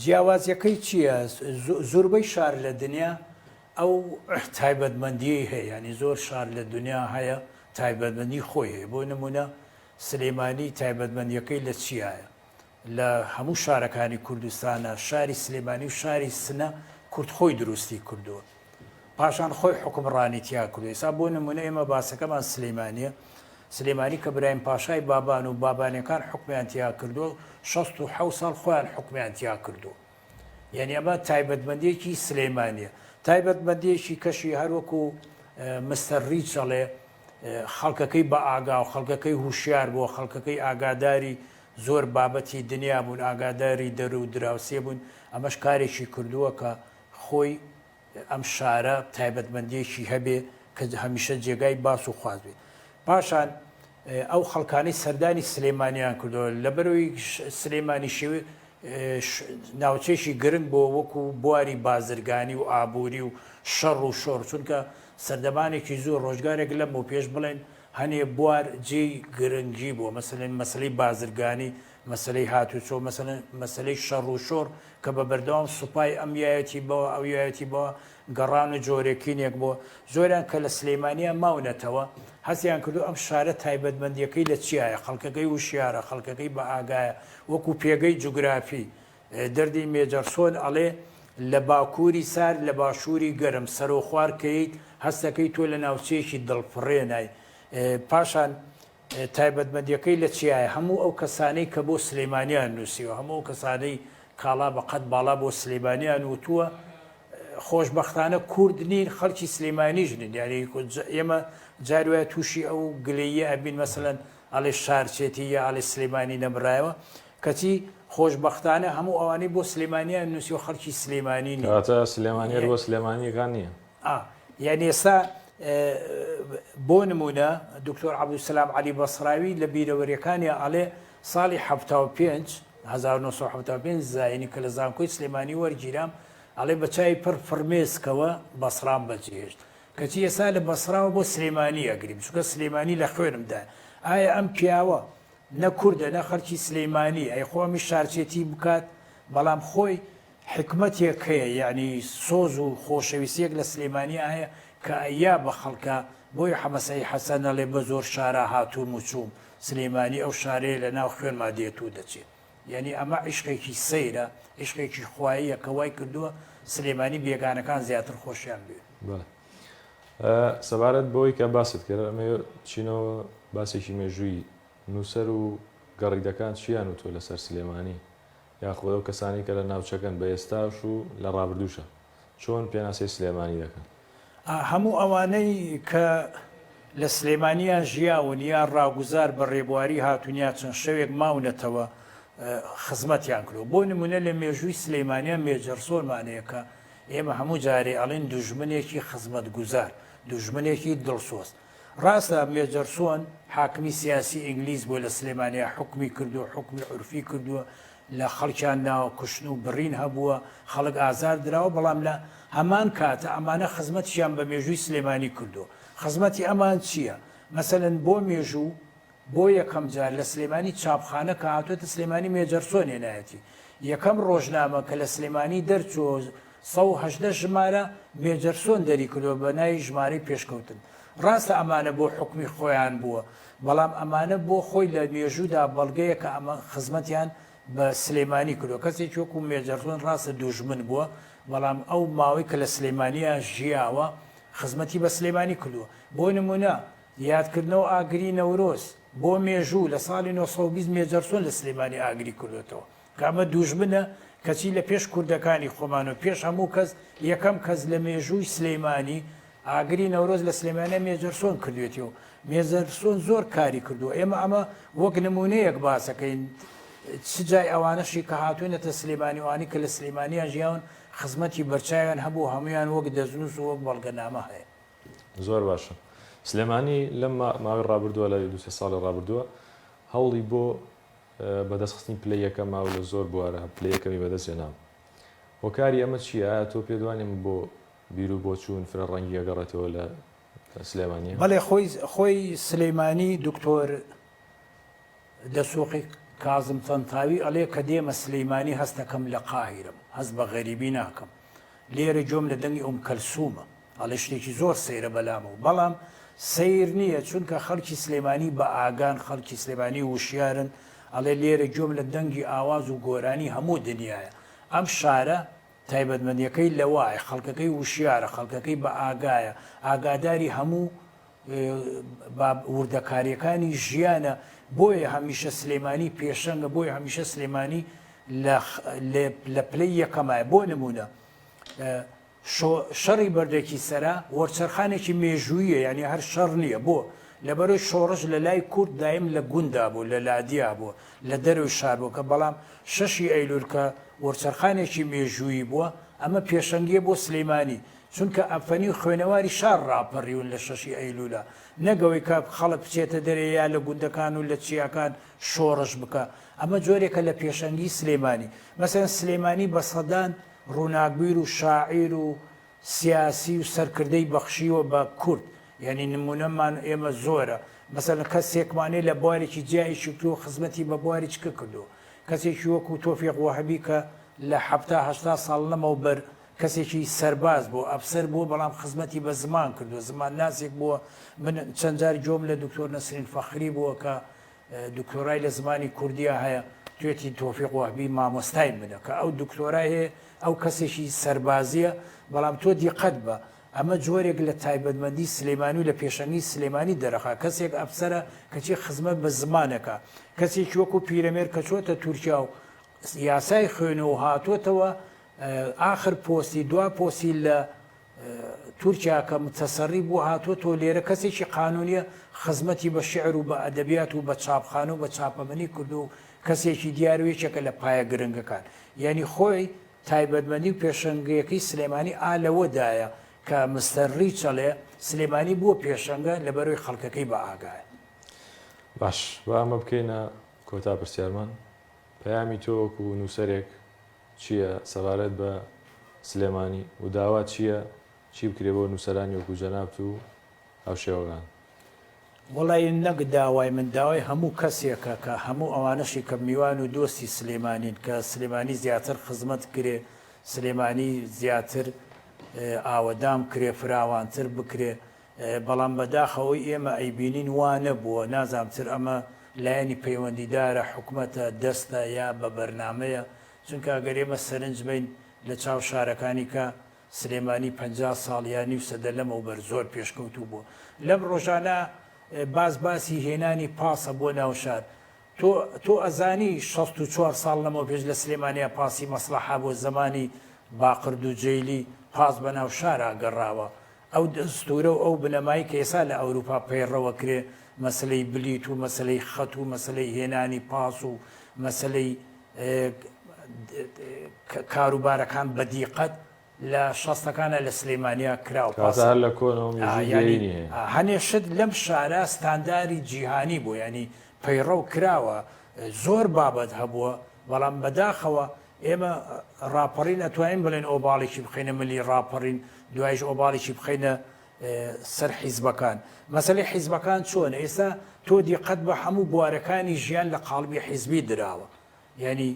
جیاوازیەکەی چیە زوربەی شار لە دنیا ئەو تایبەت مەندیەی هەیە یانی زۆر شار لە دنیا هەیە تایبەت مەندی خۆی هەیە بۆ نمونە سلیمانی تایبەت مەندیەکەی لە چیایە لە هەموو شارەکانی کوردستانە شاری سلیمانی و شاری سنە کورد خۆی دروستی کردوە پاشان خۆی حوکمڕانی تیا کردو ئێستا بۆ نمونە ئێمە باسەکەمان سلەیمانە سلێمانی کە برایم پاشای بابان و بابانەکان حکمیان تیا کردو 16 ساڵ خۆیان حکمیان تیا کردو یعنی ئەمە تایبەتمەندێکی سلەیمانە تایبەتمەندێکی کەشی هەروەکو مستەر ریچەڵێ خەڵکەکەی بە ئاگا و خەڵکەکەی هوشیار بۆ خەڵکەکەی ئاگاداری زۆر بابەتی دنیا بوون ئاگاداری دەرو دراوسێ بوون ئەمەش کارێکی کردووە کە خۆی ئەم شارە تایبەتمەندیەکی هەبێ کە هەمیشە جێگای باس و خواست بێ پاشان ئەو خەڵکانی سەردانی سلێمانیان کردەوە لەبەرەوەی سلێمانی شێوێ ناوچێکی گرنگ بۆ وەکو بواری بازرگانی و ئابووری و شەڕ و شۆڕ چونکە سەردەمانێکی زۆر ڕۆژگارێک لەم بۆ پێش بڵێن هەنێ بوار جێی گرنگی بووە مەسلێن مەسلەی بازرگانی مەسەلەی هاتوچۆ، مەسەلەن مەسەلەی شەڕ و شۆڕ کە بە بەردەوام سوپای ئەم یایەتی بەوە ئەو یایەتی بەوە گەڕان و جۆرێکینێک بۆ زۆریان کە لە سلیمانیان ماونەتەوە حەزیان کردو ئەم شارە تایبەتمەندیەکەی لە چیایە خەڵکەکەی وشیارە خەڵکەکەی بە ئاگایە وەکو پێگەی جوگرافی دەردی مێجەرسۆن ئەڵێ لە باکوری سارد لە باشوری گەرم سەرو خوار کەیت هەستەکەی تۆ لە ناوچەیەکی دڵفڕێنای پاشان تایبەتمەندیەکەی لە چیایە هەموو ئەو کەسانەی کە بۆ سلیمانیان نوسیوە هەموو ئەو کەسانەی کاڵا بە قەد باڵا بۆ سلیمانیان وتووە خۆشبەختانە کورد نین خەڵکی سلیمانیش نین یاری ئێمە جار وایە تووشی ئەو گلەیە ئەبین مەسەن ئەڵێ شارچێتی یا ئەڵێ سلیمانی نەبرایەوە کەچی خۆشببختانە هەموو ئەوانەی بۆ سلێمانیان نووسی و خەڵکی سلێمانی ناتە سلێمانی بۆ سلێمانیەکان نییە ئا یانی ئێستا بۆ نموونە دکتۆر عەبدولسەلام عەلی بەسڕاوی لە بیرەوەریەکانیا ئەڵێ ساڵی حەفتا و پێنج هەزار و نۆ سەد و حەفتا و پێنج زایینی کە لە زانکۆی سلێمانی وەرگیرام ئەڵێ بە چاوی پڕ فڕمێسکەوە بەسڕام بەجێهێشت کەچی ئێستا لە بەسڕاوە بۆ سلێمانی ئەگریم چونکە سلێمانی لە خوێنمدا ئایا ئەم پیاوە نە کوردە نە خەڵکی سلەیمانی ئەی خۆمی شارچێتی بکات بەڵام خۆی حیکمەتێک هەیە یانی سۆز و خۆشەویستیەک لە سلیمانیا هەیە کە ئەیا بە خەڵکا بۆیە حەمەسەعی حەسەن ئەڵێ بە زۆر شارا هاتووم و چووم سلیمانی ئەو شارەیە لە ناو خوێنما دێت و دەچێ یانی ئەمە عیشقێکی سەیرە عیشقێکی خواییە کە وای کردووە سلیمانی بێگانەکان زیاتر خۆشیان بوێ. بەڵێ سەبارەت بەوەی کە باست کرد ئەمە چینەوە باسێکی مێژووی نووسەر و گەڕیدەکان چیان وتووە لەسەر سلێمانی یاخود ئەو کەسانەی کە لە ناوچەکەن بە ئێستاش و لە ڕابردووشا چۆن پێناسەی سلێمانی دەکەن؟ هەموو ئەوانەی کە لە سلێمانییان ژیاون یا ڕاگوزار بە ڕێبواری هاتوون یا چەند شەوێک ماونەتەوە خزمەتیان کردووە. بۆ نموونە لە مێژووی سلێمانییە مێجەرسۆرمان هەیە کە ئێمە هەموو جارێ ئەڵێین دوژمنێکی خزمەتگوزار، دوژمنێکی دڵسۆز. ڕاستە مێجەرسۆن حاکمی سیاسی ئینگلیز بووە لە سلێمانیا حوکمی کردووە حوکمی عورفی کردووە لە خەڵکیان ناوە کوشتن و بڕین هەبووە خەڵک ئازار دراوە بەڵام لە هەمان کاتە ئەمانە خزمەتیان بە مێژووی سلێمانی کردووە خزمەتی ئەمان چییە مەسەن بۆ مێژوو بۆ یەکەم جار لە سلێمانی چاپخانە کە هاتووەتە سلێمانی مێجەرسۆن هێنایەتی. یەکەم ڕۆژنامە کە لە سلێمانی دەرچووە و سەد و هەژدە ژمارە مێجەرسۆن دەریکردووە بە ناوی ژمارەی پێشکەوتن. ڕاستە ئەمانە بۆ حوکمی خۆیان بووە، بەڵام ئەمانە بۆ خۆی لە مێژوودا بەڵگەیە کە ئەمە خزمەتیان بە سلێمانی کردووە. کەسێکی وەکوو مێجەرسۆن ڕاستە دوژمن بووە، بەڵام ئەو ماوەی کە لە سلێمانییە ژیاوە خزمەتی بە سلێمانی کردووە. بۆ نموونە یادکردنەوە ئاگری نەورۆز بۆ مێژوو لە ساڵی نۆ سەد و بیست مێجەرسۆن لە سلێمانی ئاگری کردۆتەوە کە ئەمە دووژمنە کەچی لە پێش کوردەکانی خۆمان و پێش هەموو کەس یەکەم کەس لە مێژووی سلێمانی ئاگری نەورۆز لە سلێمانە مێجەرسۆن کردوێتی و مێزەرسۆن زۆر کاری کردو ئێمە ئەمە وەک نمونەیەک باسەکەین چ جای ئەوانەشی کە هاتوێنەتە سلێمانیوانی کە لە سلێمانیان ژیاون خزمەتی بەرچاویان هەبوو هەمویان وەک دەزنووس و وەک بەڵگەنامە هەیە زۆر باشە سلێمانی لەم ماوەی ڕابردووە لە دو سێ ساڵی ڕابردووە هەوڵی بۆ بەدەستخستنی پلە یەکە ماو لە زۆر بوارە پلە یەکەمی بەدەست هێناوە هۆکاری ئەمە چیە تۆ پێدوانیم بۆ بیرو بۆ چوون فرە ڕەنگی ئەگەڕێتەوە لە سلێمانی بەڵێ خۆی خۆی سلەیمانی دکتۆر دەسوقی کازم تەنتاوی ئەڵێ کە دێمە سلەیمانی هەستەکەم لە قاهیرم هەست بە غەریبی ناکەم لێرە گوێم لە دەنگی ئوم کەلسومە ئەڵێ شتێکی زۆر سەیرە بەلامەوە بەڵام سەیر نییە چونکە خەڵکی سلێمانی بە ئاگان خەڵکی سلێمانی وشیارن ئەڵێ لێرە گوێم لە دەنگی ئاواز و گۆرانی هەموو دنیاە ئەم شارە تایبەتمەندیەکەی لەوایە خەڵکەکەی وشیارە خەڵکەکەی بە ئاگایە ئاگاداری هەموو وردەکاریەکانی ژیانە بۆیە هەمیشە سلێمانی پێشەنگە بۆی هەمیشە سلێمانی لە پلەی یەکەمایە بۆ نمونە شۆ شەڕی بەردەکی سەرا وەرچەرخانێکی مێژووییە یانی هەر شەڕ نییە بۆ؟ لەبەرەوەی شۆڕش لە لای کورد دایم لە گوندا بوو لە لادیا بووە لە دەرەوەی شار بووە کە بەڵام شەشی ئەیلول کە وەرچەرخانێکی مێژوویی بووە ئەمە پێشەنگیە بۆ سلیمانی چونکە ئەفەنی و خوێنەواری شار ڕاپەریون لە شەشی ئەیلولا نەک ئەوەی کە خەڵک بچێتە دەرێ یا لە گوندەکان و لە چیاکان شۆڕش بکا ئەمە جۆرێکە لە پێشەنگی سلیمانی مەسەن سلیمانی بە سەدان ڕووناکبیر و شاعیر و سیاسی و سەرکردەی بەخشیوە بە کورد یانی نمونەمان ئێمە زۆرە مەسەلەن کەسێکمان هەیە لە بوارێکی جیا ئیشی کردووە خزمەتی بە بواری چکە کردووە کەسێکی وەکو تۆفیق وەهەبی کە لە حەفتا هەشتا ساڵ لەمەوبەر کەسێکی سەرباز بووە ئەفسەر بووە بەڵام خزمەتی بە زمان کردووە زمانناسێک بووە من چەند جار گوێم لە دکتۆر نەسرین فەخری بووە کە دکتۆرای لە زمانی کوردیا هەیە توێتی تۆفیق وەهبی مامۆستای منە کە ئەو دکتۆرای هەیە ئەو کەسێکی سەربازیە بەڵام تۆ دیقەت بە ئەمە جۆرێک لە تایبەتمەندی سلێمانی و لە پێشەنگی سلێمانی دەرەخا کەسێک ئەفسرە کەچی خزمەت بە زمانەکە کەسێکی وەکو پیرەمێر کە چۆتە تورکیا و یاسای خوێنەوە هاتووەتەوە ئاخر پۆستی دوا پۆسی لە تورکیا کە متەسەری بووە هاتووە تۆ لێرە کەسێکی قانونیە خزمەتی بە شعر و بە ئەدەبیات و بە چاپخانە و بە چاپەمەنی کردو و کەسێکی دیار و یەکێکە لە پایە گرنگەکان یانی خۆی تایبەتمەندی و پێشەنگەکەی سلێمانی ئا لەوەدایە کە مستەر ڕیچەڵێ سلێمانی بووە پێشەنگە لەبەرەوەی خەڵکەکەی بە ئاگایە. باش با ئەمە بکەینە کۆتا پرسیارمان، پەیامی تۆ وەکو نووسەرێک، چیە سەبارەت بە سلێمانی و داوات چیە چی بکرێ بۆ نوسەرانی وەکو جەنابت و هاوشێوەکان؟ وەڵا ی نەک داوای من داوای هەموو کەسێکە کە هەموو ئەوانەشی کە میوان و دۆستی سلێمانین کە سلێمانی زیاتر خزمەت بکرێ سلێمانی زیاتر ئاوەدان بکرێ فراوانتر بکرێ بەڵام بەداخەوەی ئێمە ئەیبینین وا نەبووە، نازانم چر ئەمە لایەنی پەیوەندیدارە، حکومەتە، دەستە یا بە بەرنامەیە، چونکە گەر ئێمە سەرنج بەین لە چاو شارەکانی کە سلێمانی پەنجا ساڵ یا نیو سەدە لەمەوبەر زۆر پێشکەوتوو بووە لەم ڕۆژانە باس باسی هێنانی پاسە بۆ ناو شار تۆ تۆ ئەزانی شەست و چوار ساڵ لەمەو پێش لە سلێمانیا پاسی مەسلەحا بۆ زەمانی باقرد و جەیلی پاس بە ناو شارا گەڕاوە ئەو دەستوورە و ئەو بنەمای کە ئێستا لە ئەوروپا پەیڕەوە کرێ مەسەلەی بلیت و مەسەلەی خەت و مەسەلەی هێنانی پاس و مەسەلەی کاروبارەکان بە دیقەت لە شەستەکانا لە سلیمانیا کرا و پاس هەنێ شت لەم شارە ستانداری جیهانی بۆ ینی پەیڕەو کراوە زۆر بابەت هەبووە بەڵام بەداخەوە ئێمە ڕاپەڕین ئەتوانین بڵێن ئۆباڵێکی بخەینە ملی ڕاپەڕین دوایش ئۆباڵێکی بخەینە سەر حیزبەکان مەسلەی حیزبەکان چۆن ئێستا تۆ دیقەت بە هەموو بوارەکانی ژیان لە قالبی حیزبی دراوە یعنی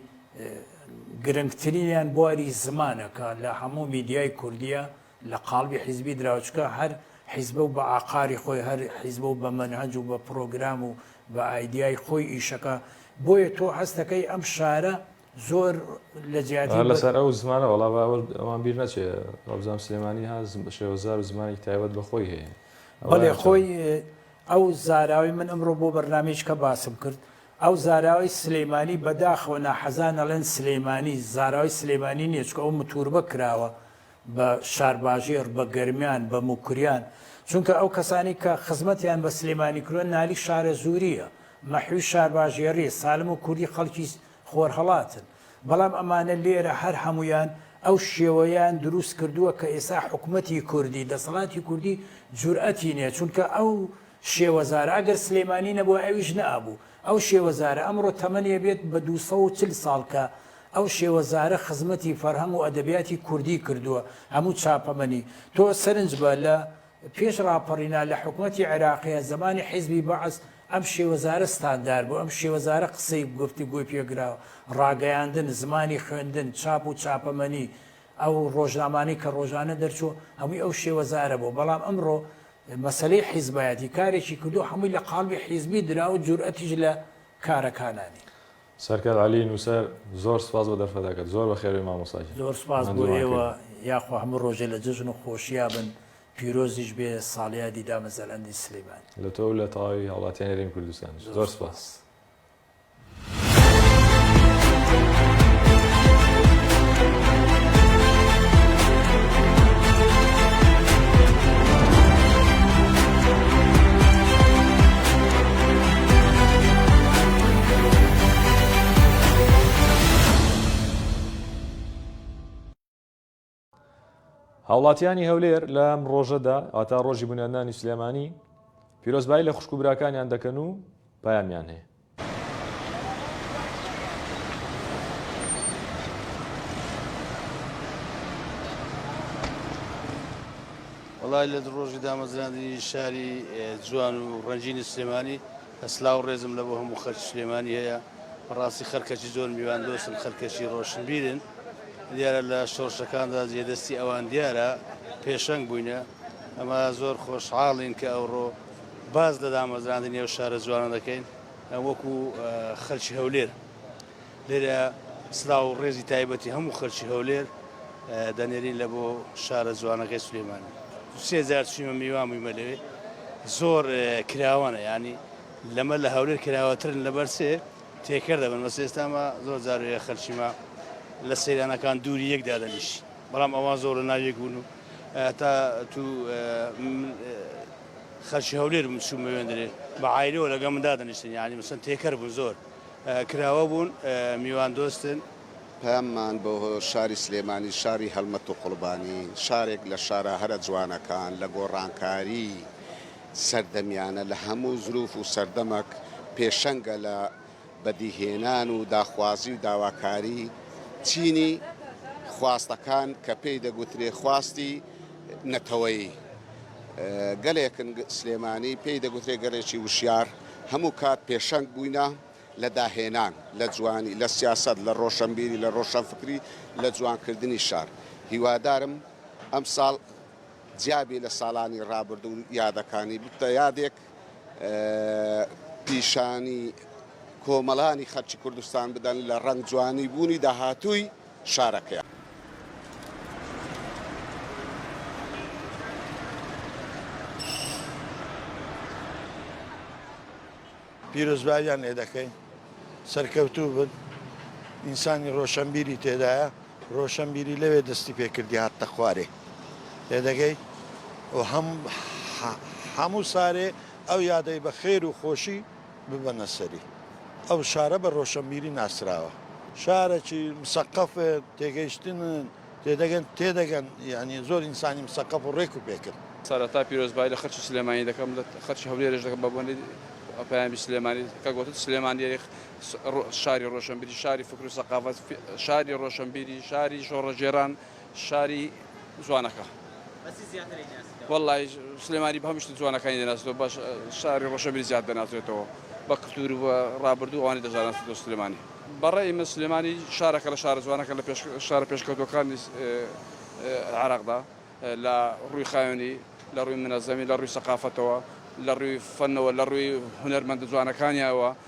گرنگترینیان بواری زمانەکە لە هەموو میدیای کوردیە لە قالبی حیزبی دراوچکە هەر حیزبە و بە ئاقاری خۆی هەر حیزبە و بە منهج و بە پرۆگرام و بە ئایدیای خۆی ئیشەکە بۆیە تۆ هەستەکەی ئەم شارە زۆر لە جیاتی هەر لەسەر ئەو زمانە وەڵا با ئەوە ئەوان بیر نەچێ وابزانم سلێمانی ها زم- شێوەزار و زمانێکی تایبەت بە خۆی هەیە ئەوە بەڵێ هەر خۆی ئەو زاراوی من ئەمڕۆ بۆ بەرنمەیەش کە باسم کرد ئەو زاراوی سلەیمانی بەداخەوە ناحەزان ئەڵێن سلەیمانی زاراوی سلەیمانی نییە چکە ئەو متوربە کراوە بە شارباژێڕ بە گەرمیان بە موکریان چونکە ئەو کەسانی کە خزمەتیان بە سلێمانی کرۆن نالی شارە زوریە مەحوی شارباژێڕی سالم و کوردی خەڵکی خۆرهەڵاتن، بەڵام ئەمانە لێرە هەر هەموویان ئەو شێوەیەیان دروست کردووە کە ئێستا حکومەتی کوردی، دەسەڵاتی کوردی جورئەتی نیە، چونکە ئەو شێوەزارە ئەگەر سلێمانی نەبوایە ئەویش نەئەبوو، ئەو شێوەزارە ئەمڕۆ تەمەنی ئەبێت بە دوو سەد و چل ساڵ کە ئەو شێوەزارە خزمەتی فەرهەنگ و ئەدەبیاتی کوردی کردووە هەموو چاپەمەنی تۆ سەرنج بە لە پێش ڕاپەڕینا لە حکومەتی عێراقیە زەمانی حیزبی بەعس ئەم شێوەزارە ستاندار بوو ئەم شێوەزارە قسەی گفتوگۆی پێ گرا ڕاگەیاندن زمانی خوێندن چاپ و چاپەمەنی ئەو ڕۆژنامانەی کە ڕۆژانە دەرچوو هەمووی ئەو شێوەزارە بوو بەڵام ئەمڕۆ مەسەلەی حیزبایەتی کارێکی کردو هەمووی لە قاڵبی حیزبی درا و جورئەتیش لە کارەکانانی. سەرکەر عەلی نوسەر زۆر سوپاس بۆ دەرفەتەکەت زۆر بەخێربێی مامۆستا گیان زۆر سوپاس بۆ ئێوە یاخوا هەموو ڕۆژێ لە جەژن و خۆشیا بن پیرۆزیش بێ ساڵیادی دامەزەرەندی سلیمانی. لە تۆ و لە تەواوی هاوڵاتیانی هەرێمی کوردستانیش زۆر سوپاس. هاوڵاتیانی هەولێر لەم ڕۆژەدا ئاتا ڕۆژی بنیادنانی سلێمانی پیرۆزبایی لە خوشک و براکانیان دەکەن و پامیان هەیە وەڵای لە ڕۆژی دامەزراندنی شاری جوان و ڕەنجینی سلێمانی سلااو ڕێزم لە بۆ هەموو خەرچ سلێمانی هەیە بەڕاستی خەرکەچی زۆر میوان دۆستن خەرکەچی ڕۆشنبیرن دیارە لە شۆڕشەکاندا جێدەستی ئەوان دیارە پێشەنگ بووینە ئەمە زۆر خۆشحاڵین کە ئەوڕۆ باز لە دامەزراندنی ئەو شارە جوانە دەکەین وەکو خەرچی هەولێر لێرە سلاو و ڕێزی تایبەتی هەموو خەلکی هەولێر دەنێرین لە بۆ شارە جوانەکەی سلێمانی سێ جار چویمە میوان بوویمە لەوێ زۆر کراوانە ینی لەمە لە هەولێر کراوەترن لە بەرسێ تێکەر دەبن بەس ئێستاما زۆر جارێ خەلکیمە لە سەیرانەکان دووری یەک دادەنیش بەڵام ئەوان زۆر لە ناویەک بوون و تا تو خەلکی هەولێر بم چوومە وێندرێ بە عیلەوە لەگە من دادەنیشتن ینی مسن تێکەر بوون زۆر کراوە بوون میوان دۆستن. پەیاممان بۆ شاری سلێمانی شاری هەڵمەت و قوڵبانی شارێک لە شارە هەرە جوانەکان لە گۆڕانکاری سەردەمیانە لە هەموو زروف و سەردەمەک پێشەنگە لە بەدیهێنان و داخوازی و داواکاری چینی خواستەکان کە پێی دەگوترێ خواستی نەتەوەیی گەلێکن سلێمانی پێی دەگوترێ گەلێکی وشیار هەموو کات پێشەنگ بووینە لە داهێنان، لە جوانی، لە سیاسەت، لە ڕۆشەنبیری، لە ڕۆشەنفکری، لە جوانکردنی شار. هیوادارم ئەمساڵ جیا بێ لە ساڵانی ڕابردوو و یادەکانی، ببتە یادێک پیشانی کۆمەڵانی خەلکی کوردستان بدەن لە ڕەنگ جوانی بوونی داهاتووی. شارەکەیان. پیرۆزباییان لێ دەکەین سەرکەوتوو بن ئینسانی ڕۆشەنبیری تێدایە ڕۆشەنبیری لەوێ دەستی پێ کردی هاتتە خوارێ لێ دەگەی و هەم هەموو سارێ ئەو یادەی بە خێر و خۆشی ببەنە سەری. ئەو شارە بە ڕۆشەنبیری ناسراوە. شارەکی مسەقەفە، تێگەیشتنن، تێدەگەن، تێدەگەن، یانی زۆر ئینسانی مسەقەف و ڕێک و پێکن. سەرەتا پیرۆزبایی لە خەرکی سلێمانی دەکەم لە خەرکی هەولێرش دەکەم بە بۆنەی پەیامی سلێمانی کە گۆتت سلێمانی ئەی شاری ڕۆشەنبیری شاری فکر و سەقافەت شاری ڕۆشەنبیری شاری شۆڕەگێران. شاری جوانەکە بەچی زیاتر ئەیناسیتەوە؟ وەڵا سلێمانی بەهەموو شتە جوانەکانی دەناسێتەوە باش شاری ڕەشەبی زیاد دەناسێتەوە بە کلتور و بە ڕابردوو ئەوانی دەزاناسێتەوە سلێمانی بەڕای من سلێمانی شارەکە لە شارە جوانەکە لە پێش شارە پێشکەوتوەکانی عێراقدا لە ڕووی خاوێنی لە ڕووی منەزەمی لە ڕووی سەقافەتەوە لە ڕووی فەنەوە لە ڕووی هونەرمەندە جوانەکانیەوە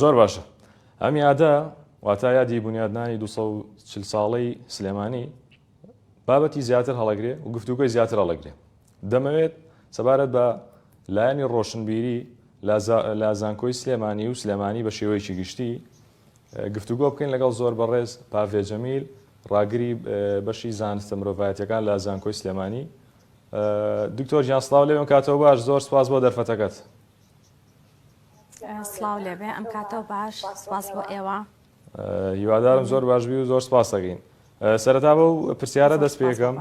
زۆر باشە ئەم یادە واتا یادی بنیادنانی 240 ساڵەی سلێمانی بابەتی زیاتر هەڵەگرێ و گفتوگوی زیاتر هەڵەگرێ دەمەوێت سەبارەت بە لایەنی ڕۆشنبیری لە زانکۆی سلێمانی و سلێمانی بە شێوەیەکی گشتی گفتوگۆ بکەین لەگەڵ زۆر بەڕێز پاڤێجەمیل ڕاگری بەشی زانستە مرۆڤایەتەکان لە زانکۆی سلێمانی دکتۆر جیان سلااو لەوێن کاتەوە باش زۆر سپاس بۆ دەرفەتەکەت سڵاو لێ بێ ئەم کاتەو باش سپاس بۆ ئێوە. هیوادارم زۆر باش بی و زۆر سپاست دەکەین. سەرەتا بەو پرسیارە دەست پێ کەم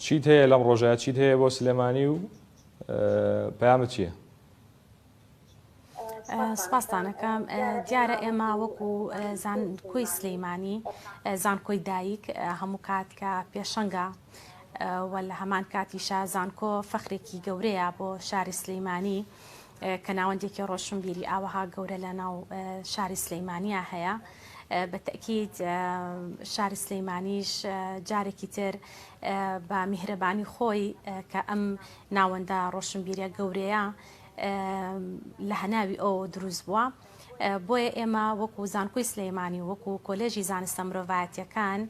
چیت هەیە لەم ڕۆژە چیت هەیە بۆ سلێمانی و پەیامت چییە؟ سپاسانەکەم دیارە ئێمە وەکو زانکۆی سلەیمانی زانکۆی دایک هەموو کات کە پێشەنگە و لە هەمان کاتیشا زانکۆ فەخرێکی گەورەیە بۆ شاری سلیمانی کە ناوەندێکی ڕۆشنبیری ئاوەها گەورە لە ناو شاری سلیمانیا هەیە بە تەکیید شاری سلیمانیش جارێکی تر بە میهرەبانی خۆی کە ئەم ناوەندە ڕۆشنبیرە گەورەیە لە هەناوی ئەو دروست بووە بۆیە ئێمە وەکو زانکۆی سلەیمانی وەکو کۆلێژی زانستە مرۆڤایەتەکان و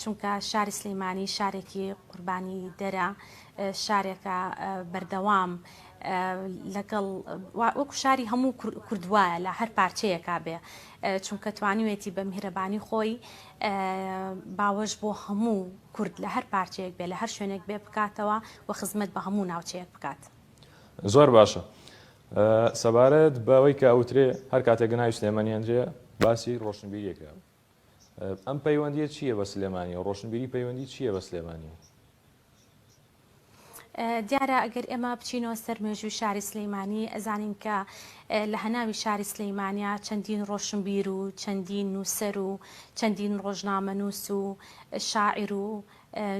چونکە شاری سلیمانی شارێکی قوربانی دەرە شارێکە بەردەوام لەگەڵ وەک شاری هەموو کوردوایە لە هەر پارچەیەکا بێ چونکە توانیوێتی بە میهرەبانی خۆی باوەش بۆ هەموو کورد لە هەر پارچەیەک بێ لە هەر شوێنێک بێ بکاتەوە و خزمەت بە هەموو ناوچەیەک بکات زۆر باشە سەبارەت بەوەی کە ئەوترێ هەر کاتێک گەناوی سلێمەنیێنرێ باسی ڕۆشنبیریەکە ئەم پەیوەندیە چیە بە سلێمانی و ڕۆشنبیری پەیوەندی چیە بە سلێمانی؟ دیارە ئەگەر ئێمە بچینەوە سەر مێژووی شاری سلیمانی ئەزانین کە لە هەناوی شاری سلیمانیا چەندین ڕۆشنبیر و چەندین نووسەر و چەندین ڕۆژنامە نووس و شاعیر و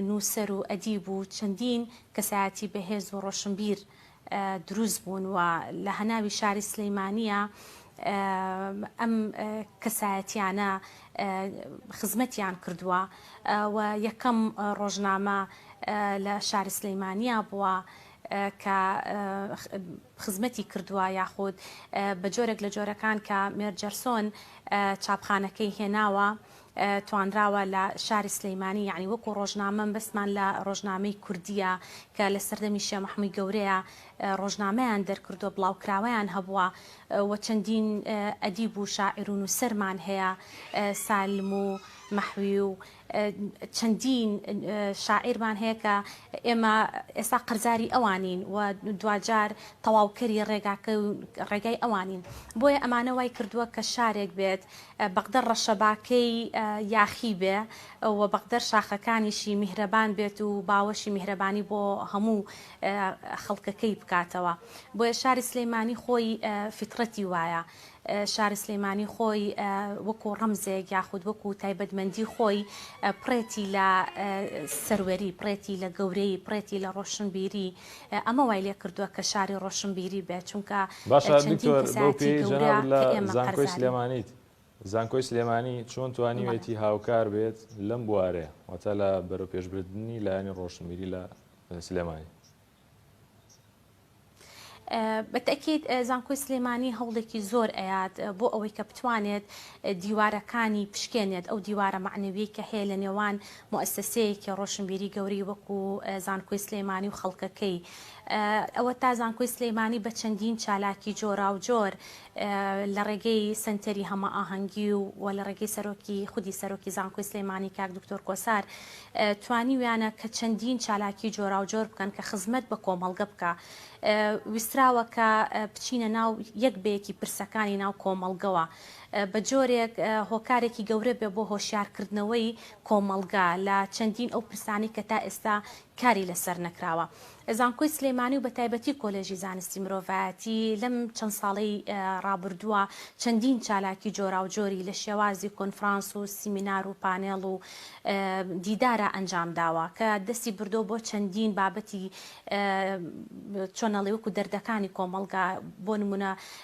نووسەر و ئەدیب و چەندین کەسایەتی بەهێز و ڕۆشنبیر دروست بوون و لە هەناوی شاری سلیمانیە ئەم کەسایەتیانە خزمەتیان کردووە و یەکەم ڕۆژنامە لە شاری سلیمانیە بووە کە خزمەتی کردووە یاخود بە جۆرێک لە جۆرەکان کە مێرجەرسۆن چاپخانەکەی هێناوە توانراوە لە شاری سلیمانی یەعنی وەکو ڕۆژنامە مەبەستمان لە ڕۆژنامەی کوردیە کە لە سەردەمی شێ مەحموی گەورەیا ڕۆژنامەیان دەرکردوە بڵاوکراوەیان هەبوە و چەندین ئەدیب و شاعیر و نوسەرمان هەیە سالم و مەحوی و چەندین شاعیرمان هەیە کە ئێمە ئێستا قەرزاری ئەوانین و دواجار تەواوکەری ڕێگاکە ڕێگای ئەوانین بۆیە ئەمانە وای کردوە کە شارێک بێت بەقدەر ڕەشەباکەی یاخی بێ و بەقدەر شاخەکانیشی میهرەبان بێت و باوەشی میهرەبانی بۆ هەموو خەڵکەکەی بکاتەوە بۆیە شاری سلیمانی خۆی فیتڕەتی وایە شاری سلیمانی خۆی وەکو ڕەمزێک یاخود وەکو تایبەتمەندی خۆی پڕێتی لە سەروەری پڕێتی لە گەورەیی پڕێتی لە ڕۆشنبیری ئەمە وای لێ کردووە کە شاری ڕۆشنبیری بێت، چونکە باشە چەندین دکتۆر بەو کەسایەتی پێیەی گەورە جەنابت لە کە ئێمە زانکۆی قەرزارین. سلێمانیت، زانکۆی سلێمانی چۆن بەڵێ. توانیوێتی هاوکار بێت لەم بوارەیە، واتە لە بەرەوپێشبردنی لایەنی ڕۆشنبیری لە سلێمانی؟ بە تەئکید زانکۆی سلێمانی هەوڵێکی زۆر ئەیات بۆ ئەوەی کە بتوانێت دیوارەکانی بشکێنێت، ئەو دیوارە مەعنەویەی کە هەیە لە نێوان موئەسەسەیەکی ڕۆشنبیری گەورەی وەکو زانکۆی سلێمانی و خەڵکەکەی ئەوەتا زانکۆی سلێمانی بە چەندین چالاکی جۆراوجۆر لە ڕێگەی سەنتەری هەمەئاهەنگی و لە ڕێگەی سەرۆکی خودی سەرۆکی زانکۆی سلێمانی کاک دکتۆر کۆسار توانیویانە کە چەندین چالاکی جۆراوجۆر بکەن کە خزمەت بە کۆمەڵگە بکا ویستراوە کە بچینە ناو یەک بە یەکی پرسەکانی ناو کۆمەڵگەوە. بە جۆرێک هۆکارێکی گەورە بێ بۆ هۆشیارکردنەوەی کۆمەڵگا لە چەندین ئەو پرسانەی کە تا ئێستا کاری لەسەر نەکراوە. زانکۆی سلێمانی و بە تایبەتی کۆلێژی زانستی مرۆڤایەتی لەم چەند ساڵەی ڕابردووە چەندین چالاکی جۆراوجۆری لە شێوازی کۆنفرانس و سیمینار و پانێڵ و دیدارا ئەنجام داوە کە دەستی بردۆ بۆ چەندین بابەتی چۆنەڵی وەکو دەردەکانی کۆمەڵگا بۆ نمونە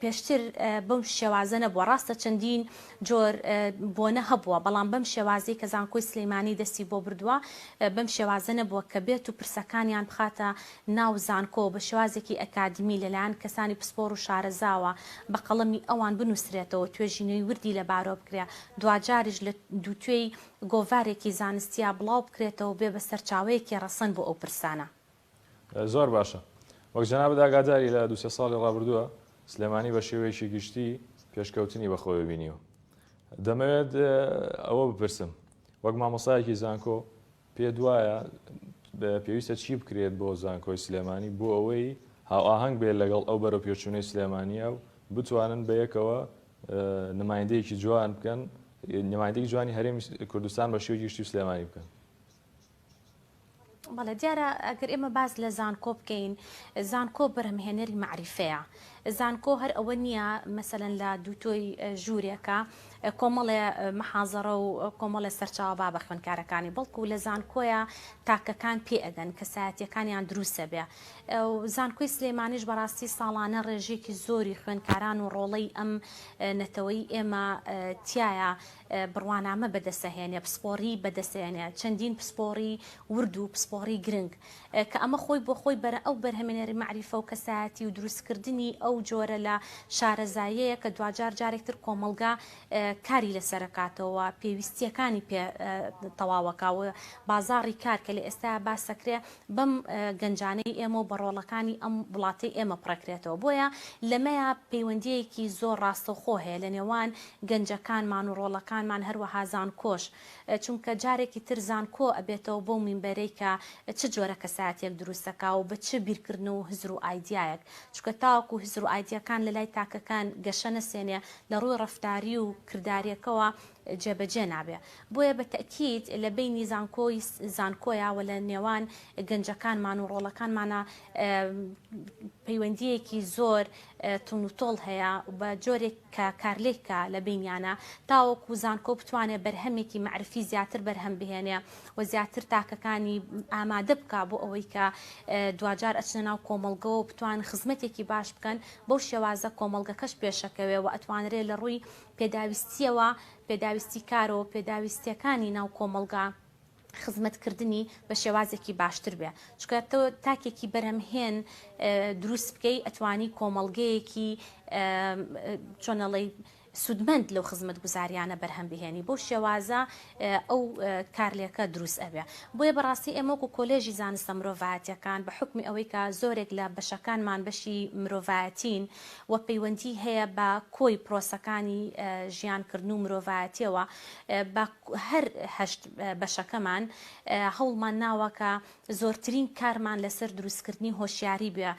پێشتر بەم شێوازە نەبووە، ڕاستە چەندین جۆر بۆنە هەبووە، بەڵام بەم شێوازەی کە زانکۆی سلێمانی دەستی بۆ بردووە، بەم شێوازە نەبووە کە بێت و پرسەکانیان بخاتە ناو زانکۆ و بە شێوازێکی ئەکادیمی لەلایەن کەسانی پسپۆڕ و شارەزاوە بە قەڵەمی ئەوان بنووسرێتەوە و توێژینەوی وردی لەبارەوە بکرێت، دواجاریش لە دووتوێی گۆڤارێکی زانستیا بڵاو بکرێتەوە و بێ بە سەرچاوەیەکی ڕەسەن بۆ ئەو پرسانە. زۆر باشە. وەک جەنابت ئاگاداری لە دوو سێ ساڵی ڕابردووە سلێمانی بە شێوەیەکی گشتی پێشکەوتنی بە خۆێ بینیوە. دەمەوێت ئەوە بپرسم وەک مامۆسایەکی زانکۆ پێ دوایە پێویستە چی بکرێت بۆ زانکۆی سلێمانی بۆ ئەوەی هاوئاهنگ بێت لەگەڵ ئەو بەرە پێچوونەی سلێمانیە و بتوانن بە یەکەوە نمایندەیەکی جوان بکەن نمایندەی جوانی هەرێمی کوردستان بە شێوی گشتی و سلێمانی بکەن. بەڵێ دیارە ئەگەر ئێمە باز لە زانکۆ بکەین زانکۆ بەرهەمهێنەری معریفەیە زانکۆ هەر ئەوە نییە مەسەن لە دووتۆی ژوورێکە کۆمەڵێ محازەڕە و کۆمەڵێ سەرچاوە با بە خوێنکارەکانی بەڵکو لە زانکۆیە تاکەکان پێ ئەگەن کەسایەتەکانیان دروسە بێ زانکۆی سلێمانیش بەڕاستی ساڵانە ڕێژێکی زۆری خوێنکاران و ڕۆڵەی ئەم نەتەوەی ئێمە تایە بڕوانامە بەدەستەهێنێ، پسپۆڕی بەدەستەهێنێ، چەندین پسپۆڕی ورد و پسپۆڕی گرنگ، کە ئەمە خۆی بۆ خۆی بەرە ئەو بەرهەمێنەری مەعریفە و کەسایەتی و دروستکردنی ئەو جۆرە لە شارەزاییەیە کە دواجار جارێک تر کۆمەڵگا کاری لەسەرەکاتەوە و پێویستییەکانی پێ تەواوەکا و بازاڕی کار کە لە ئێستایا باس ئەکرێ بەم گەنجانەی ئێمەو بە ڕۆڵەکانی ئەم وڵاتەی ئێمە پڕەکرێتەوە بۆیە لەمەیا پەیوەندیەیەکی زۆر ڕاستەوخۆ هەیە لە نێوان گەنجەکانمان و ڕۆڵەکانمان هەروەها زانکۆش چونکە جارێکی تر زانکۆ ئەبێتەوە بەو مینبەرەی کە چ جۆرە کەسایەتیەک دروستەکا و بە چ بیرکردن و هزر و ئایدیایەک چونکە تاوەکو هزر و ئایدیەکان لەلای تاکەکان گەشە نەسێنێ لە ڕووی ڕەفتاری و کرداریەکەوە جێبەجێ نابێ بۆیە بە تەئکید لە بەینی زانکۆ ی زانکۆیە وە لە نێوان گەنجەکانمان و ڕۆڵەکانمانا پەیوەندیەکی زۆر توند و تۆڵ هەیە بە جۆرێک کە کارلێک کا لە بەینیانە تاوەکو زانکۆ بتوانێ بەرهەمێکی مەعرفی زیاتر بەرهەم بهێنێ و زیاتر تاکەکانی ئامادە بکا بۆ ئەوەی کە دواجار ئەچنە ناو کۆمەڵگەوە و بتوان خزمەتێکی باش بکەن بەو شێوازە کۆمەڵگەکەش پێشەکەوێ وە ئەتوانرێ لە ڕووی پێداویستییەوە، پێداویستی کار و پێداویستییەکانی ناو کۆمەڵگا خزمەتکردنی بە شێوازێکی باشتر بێ. چونکە تۆ تاکێکی بەرهەمهێن دروست بکەی ئەتوانی کۆمەڵگەیەکی چۆن ئەڵێی سوودمەند لەو خزمەتگوزارییانە بەرهەم بهێنی. بەو شێوازە ئەو کارلێکە دروست ئەبێ. بۆیە بەڕاستی ئێمە وەکو کۆلێژی زانستە مرۆڤایەتیەکان بە حوکمی ئەوەی کە زۆرێک لە بەشەکانمان بەشی مرۆڤایەتین و پەیوەندی هەیە بە کۆی پرۆسەکانی ژیان کردن و مرۆڤایەتیەوە بە هەر هەشت بەشەکەمان هەوڵمان ناوە کە زۆرترین کارمان لەسەر دروستکردنی هۆشیاری بووە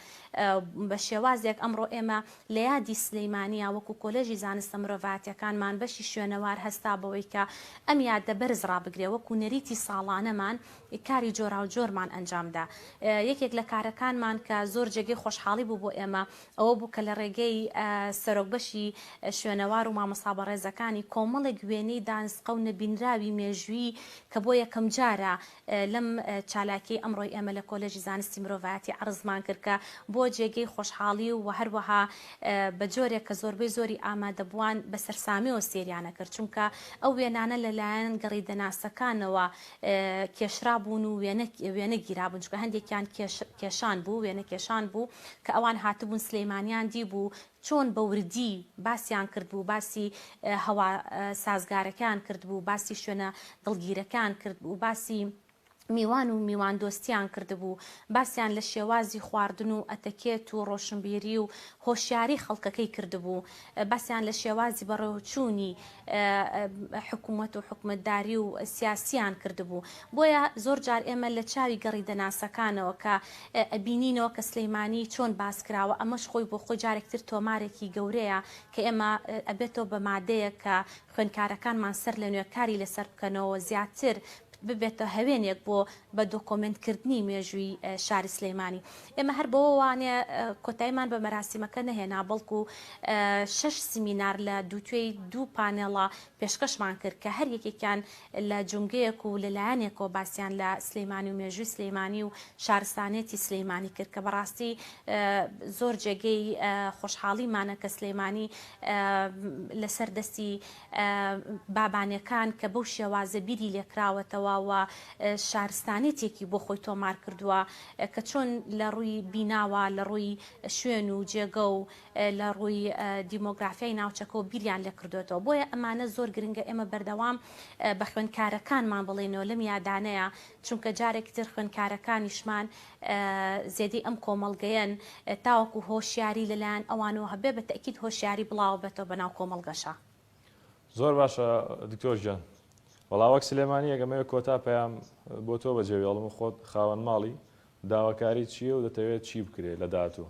بە شێوازێک ئەمڕۆ ئێمە لە یادی سلیمانییە وەکو کۆلێژی زانستە مرۆڤایەتیەکانمان بەشی شوێنەوار هەستا بەوەی کە ئەم یادە بەرز ڕابگرێ وەکو نەریتی ساڵانەمان کاری جۆراوجۆرمان ئەنجامدا یەکێک لە کارەکانمان کە زۆر جێگەی خۆشحاڵی بوو بۆ ئێمە ئەوە بوو کە لە ڕێگەی سەرۆک بەشی شوێنەوار و مامۆستا بەڕێزەکانی کۆمەڵێک وێنەی دانسقە و نەبینراوی مێژوویی کە بۆ یەکەمجارە لەم چالاکیەی ئەمڕۆی ئێمە لە کۆلێژی زانستی مرۆڤایەتی عەرزمان کرد کە بووە جێگەی خۆشحاڵی و هەروەها بە جۆرێک کە زۆربەی زۆری ئامادەبووان بە سەرسامیەوە سێریان ئەکرد چونکە ئەو وێنانە لە لایەن گەڕیدەناسەکانەوە کێشرابوون و وێنە وێنە گیرابوون چونکە هەندێکیان کێش کێشان بوو وێنەکێشان بوو کە ئەوان هاتبوون سلیمانیان دیبوو چۆن بە وردی باسیان کردبوو، باسی هەوا سازگارەکەیان کردبوو، باسی شوێنە دڵگیرەکەیان کردبوو، باسی میوان و میواندۆستیان کردبوو، باسیان لە شێوازی خواردن و ئەتەکێت و ڕۆشنبیری و هۆشیاری خەڵکەکەی کردبوو، باسیان لە شێوازی بەڕێوەچوونی حکومەت و حکومەتداری و سیاسیان کردبوو بۆیە زۆر جار ئێمە لە چاوی گەڕی دەناسەکانەوە کە ئەبینینەوە کە سلیمانی چۆن باس کراوە ئەمەش خۆی بۆ خۆی جارێک تر تۆمارێکی گەورەیە کە ئێمە ئەبێتەوە بە مادەیەک کە خوێنکارەکانمان سەر لە نوێ کاری لەسەر بکەنەوە زیاتر ببێتە هەوێنێک بۆ بە دۆکۆمێنت کردنی مێژووی شاری سلێمانی. ئێمە هەر بەوە وانە کۆتایمان بە مەراسیمەکە نەهێنا بەڵکو شەش سیمینار لە دووتوێی دوو پانێڵە پێشکەشمان کرد کە هەر یەکێکیان لە جومگەیەک و لە لایەنێکەوە باسیان لە سلێمانی و مێژووی سلێمانی و شارستانێتی سلێمانی کرد کە بەڕاستی زۆر جێگەی خۆشحاڵیمانە کە سلێمانی لەسەر دەستی بابانێکان کە بەو شێوازە بیری لێکراوەتەوە و شارستانێتێکی بۆ خۆی تۆمار کردووە کە چۆن لە ڕووی بیناوە، لە ڕووی شوێن و جێگە و لە ڕووی دیمۆگرافیای ناوچەکە و بیریان لێ کردۆتەوە. بۆیە ئەمانە زۆر گرنگە ئێمە بەردەوام بە خوێندکارەکانمان بڵێینەوە لەم یادانەیە چونکە جارێکی تر خوێندکارەکانیشمان زێدی ئەم کۆمەڵگەیەن تاوەکو هۆشیاری لەلایەن ئەوانەوە هەبێ بە تەئکید هۆشیاری بڵاوەبێتەوە بە ناو کۆمەڵگەشا. زۆر باشە دکتۆر گیان وەڵا وەک سلێمانیەک ئەمەوێ کۆتا پەیام بۆ تۆ بەجێ بێڵم خۆت خاوەن ماڵی داواکاری چیە و دەتەوێت چی بکرێ لە داهاتوو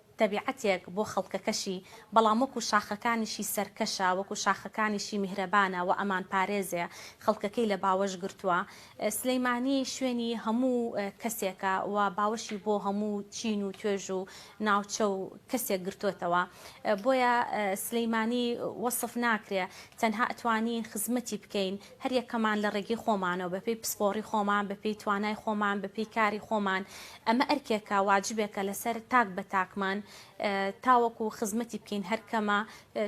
تەبیعەتێک بۆ خەڵکەکەشی، بەڵام وەکو شاخەکانیشی سەرکەشە، وەکو شاخەکانیشی میهرەبانە و ئەمان پارێزێ، خەڵکەکەی لە باوەش گرتووە. سلیمانی شوێنی هەموو کەسێکە و باوەشی بۆ هەموو چین و توێژ و ناوچە و کەسێک گرتۆتەوە. بۆیە سلیمانی وەسف ناکرێ، تەنها ئەتوانین خزمەتی بکەین. هەریەکەمان لە ڕێگەی خۆمانەوە، بەپێی پسپۆڕی خۆمان، بەپێی توانای خۆمان، بەپێی کاری خۆمان، ئەمە ئەرکێکە واجبێکە لەسەر تاک بە تاکمان تاوەکو خزمەتی بکەین، هەر کەمە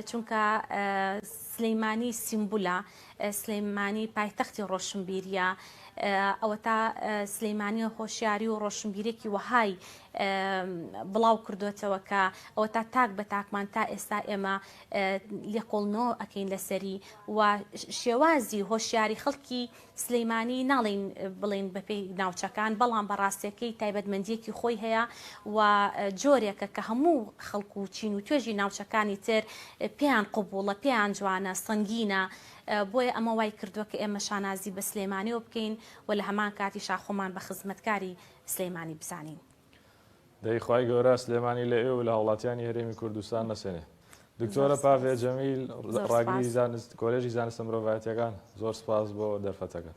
چونکە سلیمانی سیمبولە، سلیمانی پایتەختی ڕۆشنبیرییە، ئەوەتا سلیمانی هۆشیاری و ڕۆشنبیرێکی وەهای بڵاو کردۆتەوە کە ئەوەتا تاک بە تاکمان تا ئێستا ئێمە لێقۆڵ نۆ ئەکەین لەسەری و شێوازی هۆشیاری خەڵکی سلیمانی ناڵین بڵین بەپی ناوچەکان بەڵام بەڕاستەکەی تایبەتمەندیەکی خۆی هەیە و جۆرێکە کە هەموو خەڵکو و چین و توێژی ناوچەکانی تر پێیان قوبوڵە پێیان جوانە سنگینە بۆیە ئەمە وای کردووە کە ئێمە شانازی بە سلێمانیەوە بکەین و لە هەمان کاتی شاخۆمان بە خزمەتکاری سلەیمانی بزانین. دەی خوای گەورە سلێمانی لە ئێو و لە هاوڵاتیانی هەرێمی کوردستان نەسێنێ. دکتۆرە پاڤێ جەمیل ڕاگری زانست کۆلێژی زانستە مرۆڤایەتیەکان زۆر سپاس بۆ دەرفەتەکە.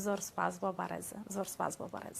زۆر سپاس بۆ بەڕێز زۆر سپاس بۆ بەڕێز.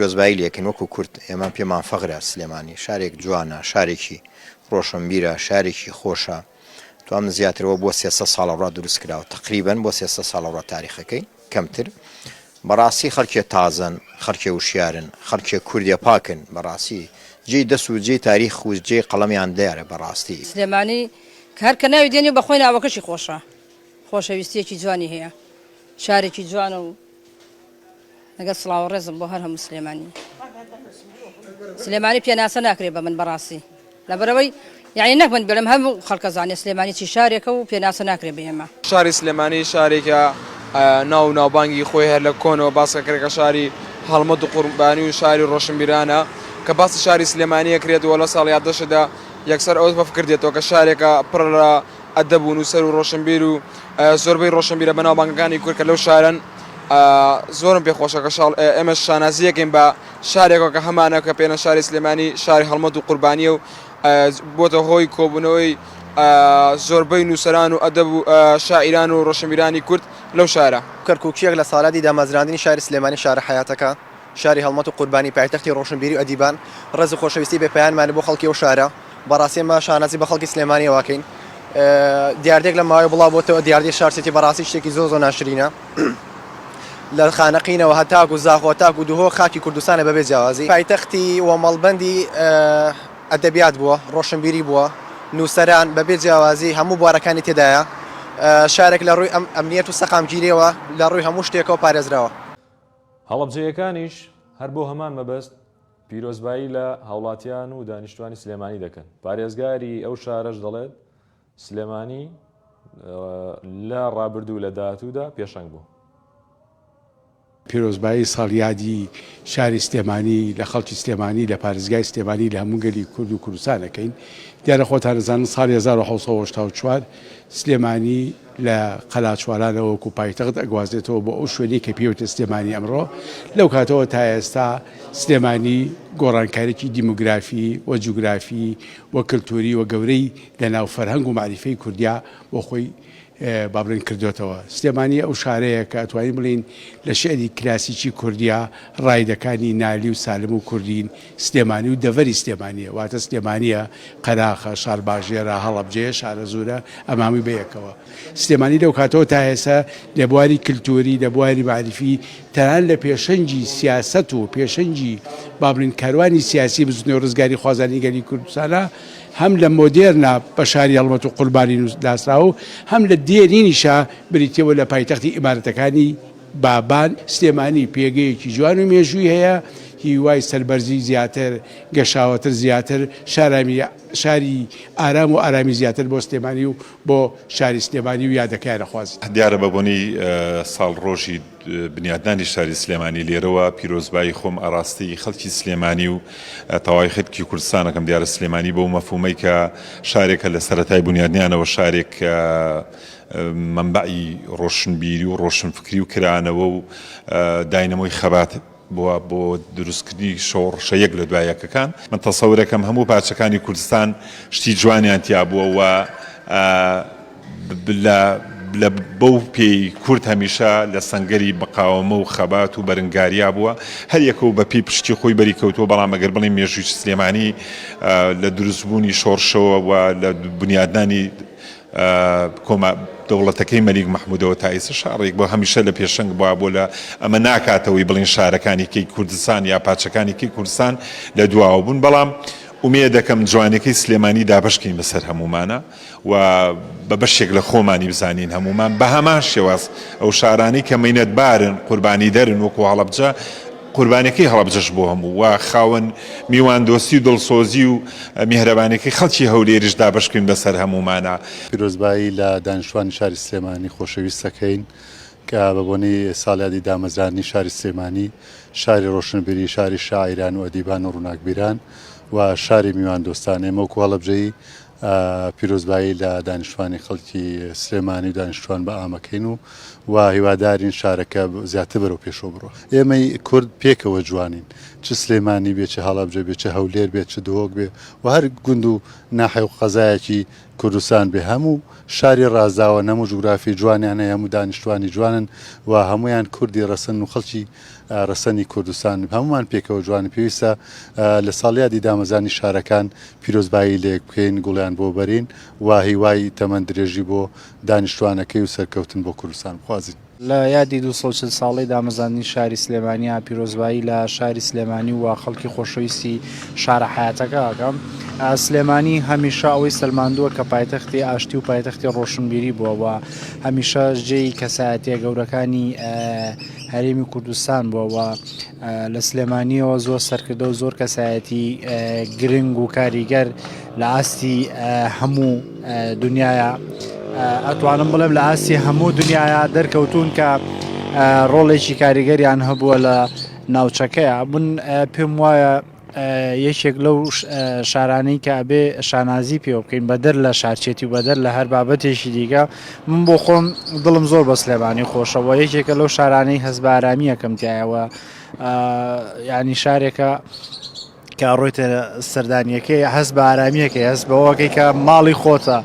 کۆزبایی لێکن وەکو کورد ئێمە پێمان فەغرە سلێمانی شارێک جوانە شارێکی ڕۆشنبیرە شارێکی خۆشە توام زیاتر وە بۆ سێسە ساڵە ڕا دروست کراوە تقریبەن بۆ سێسە ساڵە ڕا تاریخەکەی کەمتر بەڕاستی خەڵکێ تازەن خەڵکێ وشیارن خەڵکێ کوردێ پاکن بەڕاستی جێی دەست و جێی تاریخ و جێی قەڵەمیان دیارە بەڕاستی. سلێمانی کە هەر کە ناوی دێنی بەخۆی ناوەکەشی خۆشە خۆشەویستیەکی جوانی هەیە شارێکی جوانە و لەگەڵ سڵاو و ڕێزم بۆ هەر هەموو سلێمانی سلێمانی پێناسە ناکرێت بە من بەڕاستی لەبەرەوەی یعنی نەک من بێلم هەموو خەڵکە زانێ سلێمانی چی شارێکە و پێناسە ناکرێت بە ئێمە شاری سلێمانی شارێکە ناو ناوبانگی خۆی هەر لە کۆنەوە باسکە کرێکە شاری هەڵمەت و قوربانی و شاری ڕۆشنبیرانە کە باسی شاری سلێمانیە کرێت وە لە ساڵیادەشدا یەکسەر ئەوەت بەفکردێتەوە کە شارێکە پڕ لە ئەدەب و نووسەر و ڕۆشنبیر و زۆربەی ڕۆشنبیرە بەناوبانگەکانی کورد کە لەو شارەن زۆرم پێ خۆشە کە شاڵ ئێمەش شانازییەکەین بە شارێکەوە کە هەمانە کە پێێنە شاری سلێمانی شاری هەڵمەت و قوربانیە و بۆتە هۆی کۆبوونەوەی زۆربەی نووسران و ئەدەب و شاعیران و ڕۆشنبیرانی کورد لەو شارە. کەرکووکییەک لە ساڵیادی دامەزراندنی شاری سلێمانی شارە حەیاتەکە، شاری هەڵمەت و قوربانی پایتەختی ڕۆشنبیری و ئەدیبان، ڕێز و خۆشەویستی بێ پایانمان بۆ خەڵکی ئەو شارە، بەڕاستی ئێمە شانازی بە خەڵکی سلێمانیەوە ئەکەین. دیاردەیەک لەم ماوەیە بڵاو بۆتەوە، دیاردەی شار سیتی بەڕاستی شتێکی زۆر زۆر ناشرینە. لە خانەقینەوە هەتاکو زاخۆ هەتاکو دهۆک خاکی کوردستانە بە بێ جیاوازی. پایتەختی و مەڵبەندی ئەدەبیات بووە، ڕۆشنبیری بووە، نووسەران بە بێ جیاوازی هەموو بوارەکانی تێدایە. شارێک لە ڕووی ئەمنیەت و سەقامگیریەوە لە ڕووی هەموو شتێکەوە پارێزراوە. هەڵەبجەیەکانیش هەر بۆ هەمان مەبەست پیرۆزبایی لە هاوڵاتیان و دانیشتوانی سلێمانی دەکەن، پارێزگاری ئەو شارەش دەڵێت، سلێمانی لە رابردوو و لە داهاتوودا پێشەنگ بوو. پیرۆزبایی ساڵیادی شاری سلێمانی لە خەڵکی سلێمانی، لە پارێزگای سلێمانی، لە هەموو گەلی کورد و کوردستان ئەکەین، دیارە خۆتان ئەزانن ساڵی هەزار و حەوت سەد و هەشتا و چوار سلێمانی، لە قەلاچوالانەوە وەکو پایتەخت ئەگوازێتەوە بۆ ئەو شوێنەی کە پێیوتە سلێمانی ئەمڕۆ، لەو کاتەوە تا ئێستا سلێمانی گۆڕانکاریکی دیمۆگرافی و جوگرافی و کلتوری و گەورەی لە ناو فەرهەنگ و مەعریفەی کوردیا بۆ خۆی با بڵێن کردۆتەوە. سلێمانی ئەو شارەیە کە ئەتوانین بڵێین لە شیعری کلاسیکی کوردیا ڕایدەکانی نالی و سالم و کوردین سلێمانی و دەڤەری سلێمانییە، واتە سلێمانییە، قەراخە، شارباژێرە، هەڵەبجەیە، شارەزوورە، ئەمامووی بەیەکەوە. سلێمانی لەو کاتەوە تا ئێستا لە بواری کلتووری، لە بواری مەعریفی، تەنانەت لە پێشەنگی سیاسەت و پێشەنگی با بڵێین کاروانی سیاسی بزووتنەوەی ڕزگاریخوازانی گەلی کوردستانە، هەم لە مۆدێرنە بە شاری هەڵمەت و قوربانی ناسراوە و هەم لە دێرینیشە بریتییە و لە پایتەختی ئیمارەتەکانی بابان سلێمانی پێگەیەکی جوان و مێژووی هەیە هیوای سەربەرزی زیاتر گەشاوەتر زیاتر شارامی شاری ئارام و ئارامی زیاتر بۆ سلێمانی و بۆ شاری سلێمانی و یادەکەیان ئەخوازین. دیارە بە بۆنەی ساڵ ڕۆژی بنیادنانی شاری سلێمانی لێرەوە پیرۆزبایی خۆم ئەڕاستی خەڵکی سلێمانی و تەواوی خەلکی کوردستان ئەکەم دیارە سلێمانی بەو مەفهومەی کە شارێکە لە سەرەتای بنیادنانەوە شارێک مەنبەعی ڕۆشنبیری و ڕۆشنفکری و کرانەوە و داینەمۆی خەبات بووە بۆ دروستکردنی شۆڕشە یەک لە دوای یەکەکان. من تەسەورەکەم هەموو پارچەکانی کوردستان شتی جوانیان تیا بووە و لە بەو پێی کورد هەمیشە لە سەنگەری مقاوەمە و خەبات و بەرنگاریا بووە. هەر یەکە و بە پێی پشکی خۆی بەری کەوتووە، بەڵام ئەگەر بڵێین مێژووی سلێمانی لە دروستبوونی شۆڕشەوە و لە بنیادنانی کۆما دەوڵەتەکەی مەلیک مەحمودەوە تا ئیسە شاڕێک بۆ هەمیشە لە پێشەنگ بوە بۆ لە ئەمە ناکاتەوەی بڵین شارەکانی کەی کوردستان یا پاچەکانی کەی کوردستان لە دواوە بوون بەڵام ئومێ دەکەم جوانەکەی سلێمانی دابشکین بەسەر هەمومانە و بە بەشێک لە خۆمانی بزانین هەمومان بە هەمان شێواز ئەو شارانی کە مینەت بارن قوربانی دەرن وەکو هەڵەبجە قوربانیەکەی هەڵەبجەش بۆ هەموو و خاوەن میوان دۆستی و دڵسۆزی و میهرەبانیەکەی خەڵکی هەولێریش دابەشکرین بەسەر هەموومانا. پیرۆزبایی لە دانیشتوانی شاری سلێمانی خۆشەویست دەکەین کە بە بۆنەی ساڵیادی دامەزراندنی شاری سلێمانی شاری ڕۆشنبیری شاری شاعیران و ئەدیبان و ڕووناکبیران و شاری میواندۆستان ئێمە وەکو هەڵەبجەیی پیرۆزبایی لە دانیشتوانی خەڵکی سلێمانی و دانیشتوان بە ئامەکەین و و هیوادارین شارەکە زیاتر بەرەو پێشەوە بڕۆ ئێمەی کورد پێکەوە جوانین چ سلێمانی بێ چ هەڵەبجە بێ چ هەولێر بێت چ دهۆک بێ و هەر گوند و ناحێ و قەزایەکی کوردستان بێ هەموو شاری ڕازاوە نەموو جوگرافی جوانیان هەیە هەموو دانیشتوانی جوانن و هەمویان کوردی ڕەسەن و خەڵکی ڕەسەنی کوردستان هەموومان پێکەوە جوانە پێویستە لە ساڵیادی دامەزانی شارەکان پیرۆزبایی لەیەک بکەین گوڵیان بۆ بەرین و هیوای تەمەن درێژی بۆ دانیشتوانەکەی و سەرکەوتن بۆ کوردستان بخوازین. لە یادی دوو سەد و چل ساڵەی دامەزاندنی شاری سلێمانیا پیرۆزبایی لە شاری سلێمانی و خەڵکی خۆشەویستی شارە حەیاتەکە ئەکەم. سلێمانی هەمیشە ئەوەی سەلماندووە کە پایتەختی ئاشتی و پایتەختی ڕۆشنبیری بووە و هەمیشە جێی کەسایەتیە گەورەکانی هەرێمی کوردستان بووە و لە سلێمانیەوە زۆر سەرکردە و زۆر کەسایەتی گرنگ و کاریگەر لە ئاستی هەموو دنیاە ئەتوانم بڵێم لە ئاستی هەموو دنیاە دەرکەوتون کە ڕۆڵێکی کاریگەریان هەبووە لە ناوچەکەیە بن پێم وایە یەکێک لەو شارانەی کە ئەبێ شانازی پێوە بکەین بەدەر لە شارچێتی و بەدەر لە هەر بابەتێکی دیکە من بۆ خۆم دڵم زۆر بە سلێمانی خۆشەوە یەکێکە لەو شارانەی هەز بە ئارامیەکەم تایەوە ینی شارێکە کە ڕۆیتە سەردانیەکەی هەز بە ئارامیەکەی هەست بەوەکەی کە ماڵی خۆتە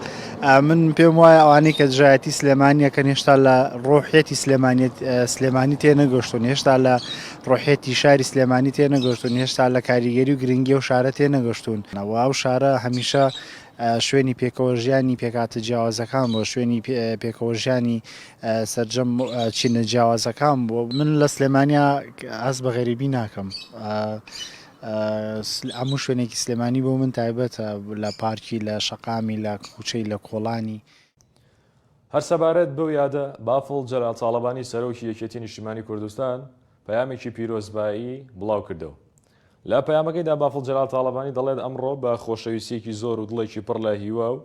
من پێم وایە ئەوانەی کە دژایەتی سلێمانیەکە هێشتا لە ڕۆحێتی سلێمانیت سلێمانی تێ نەگەشتون هێشتا لە ڕۆحیەتی شاری سلێمانی تێنەگەشتوون، هێشتا لە کاریگەری و گرنگی ئەو شارە تێنەگەشتوون و ئەو شارە هەمیشە شوێنی پێکەوە ژیانی پێکهاتە جیاوازەکان بووە، شوێنی پێکەوە ژیانی سەرجەم چینە جیاوازەکان بووە. من لە سلێمانیا هەست بە غەریبی ناکەم، هەموو شوێنێکی سلێمانی بۆ من تایبەتە، لە پارکی، لە شەقامی، لە کوچەی، لە کۆڵانی. هەر سەبارەت بەو یادە، بافڵ جەلال تاڵەبانی سەرۆکی یەکێتی نیشتیمانی کوردستان پەیامێکی پیرۆزبایی بڵاوکردەوە. لە پەیامەکەیدا بافڵ جەلال تاڵەبانی دەڵێت ئەمڕۆ بە خۆشەویستییەکی زۆر و دڵێکی پڕ لە هیوا و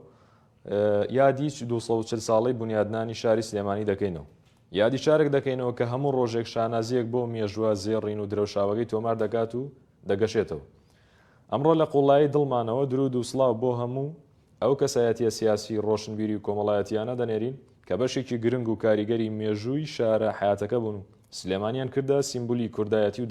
یادی دوو سەد و چل ساڵەی بونیادنانی شاری سلێمانی دەکەینەوە. یادی شارێک دەکەینەوە کە هەموو ڕۆژێک شانازییەک بۆ مێژووە زێڕین و درەوشاوەکەی تۆمار دەکات و دەگەشێتەوە. ئەمڕۆ لە قووڵایی دڵمانەوە دروود و سڵاو بۆ هەموو ئەو کەسایەتییە سیاسی، ڕۆشنبیری و کۆمەڵایەتییانە دەنێرین کە بەشێکی گرنگ و کاریگەری مێژووی شارە حەیاتەکە بوون و سلێمانیان کردە سیمبولی کوردایەتی و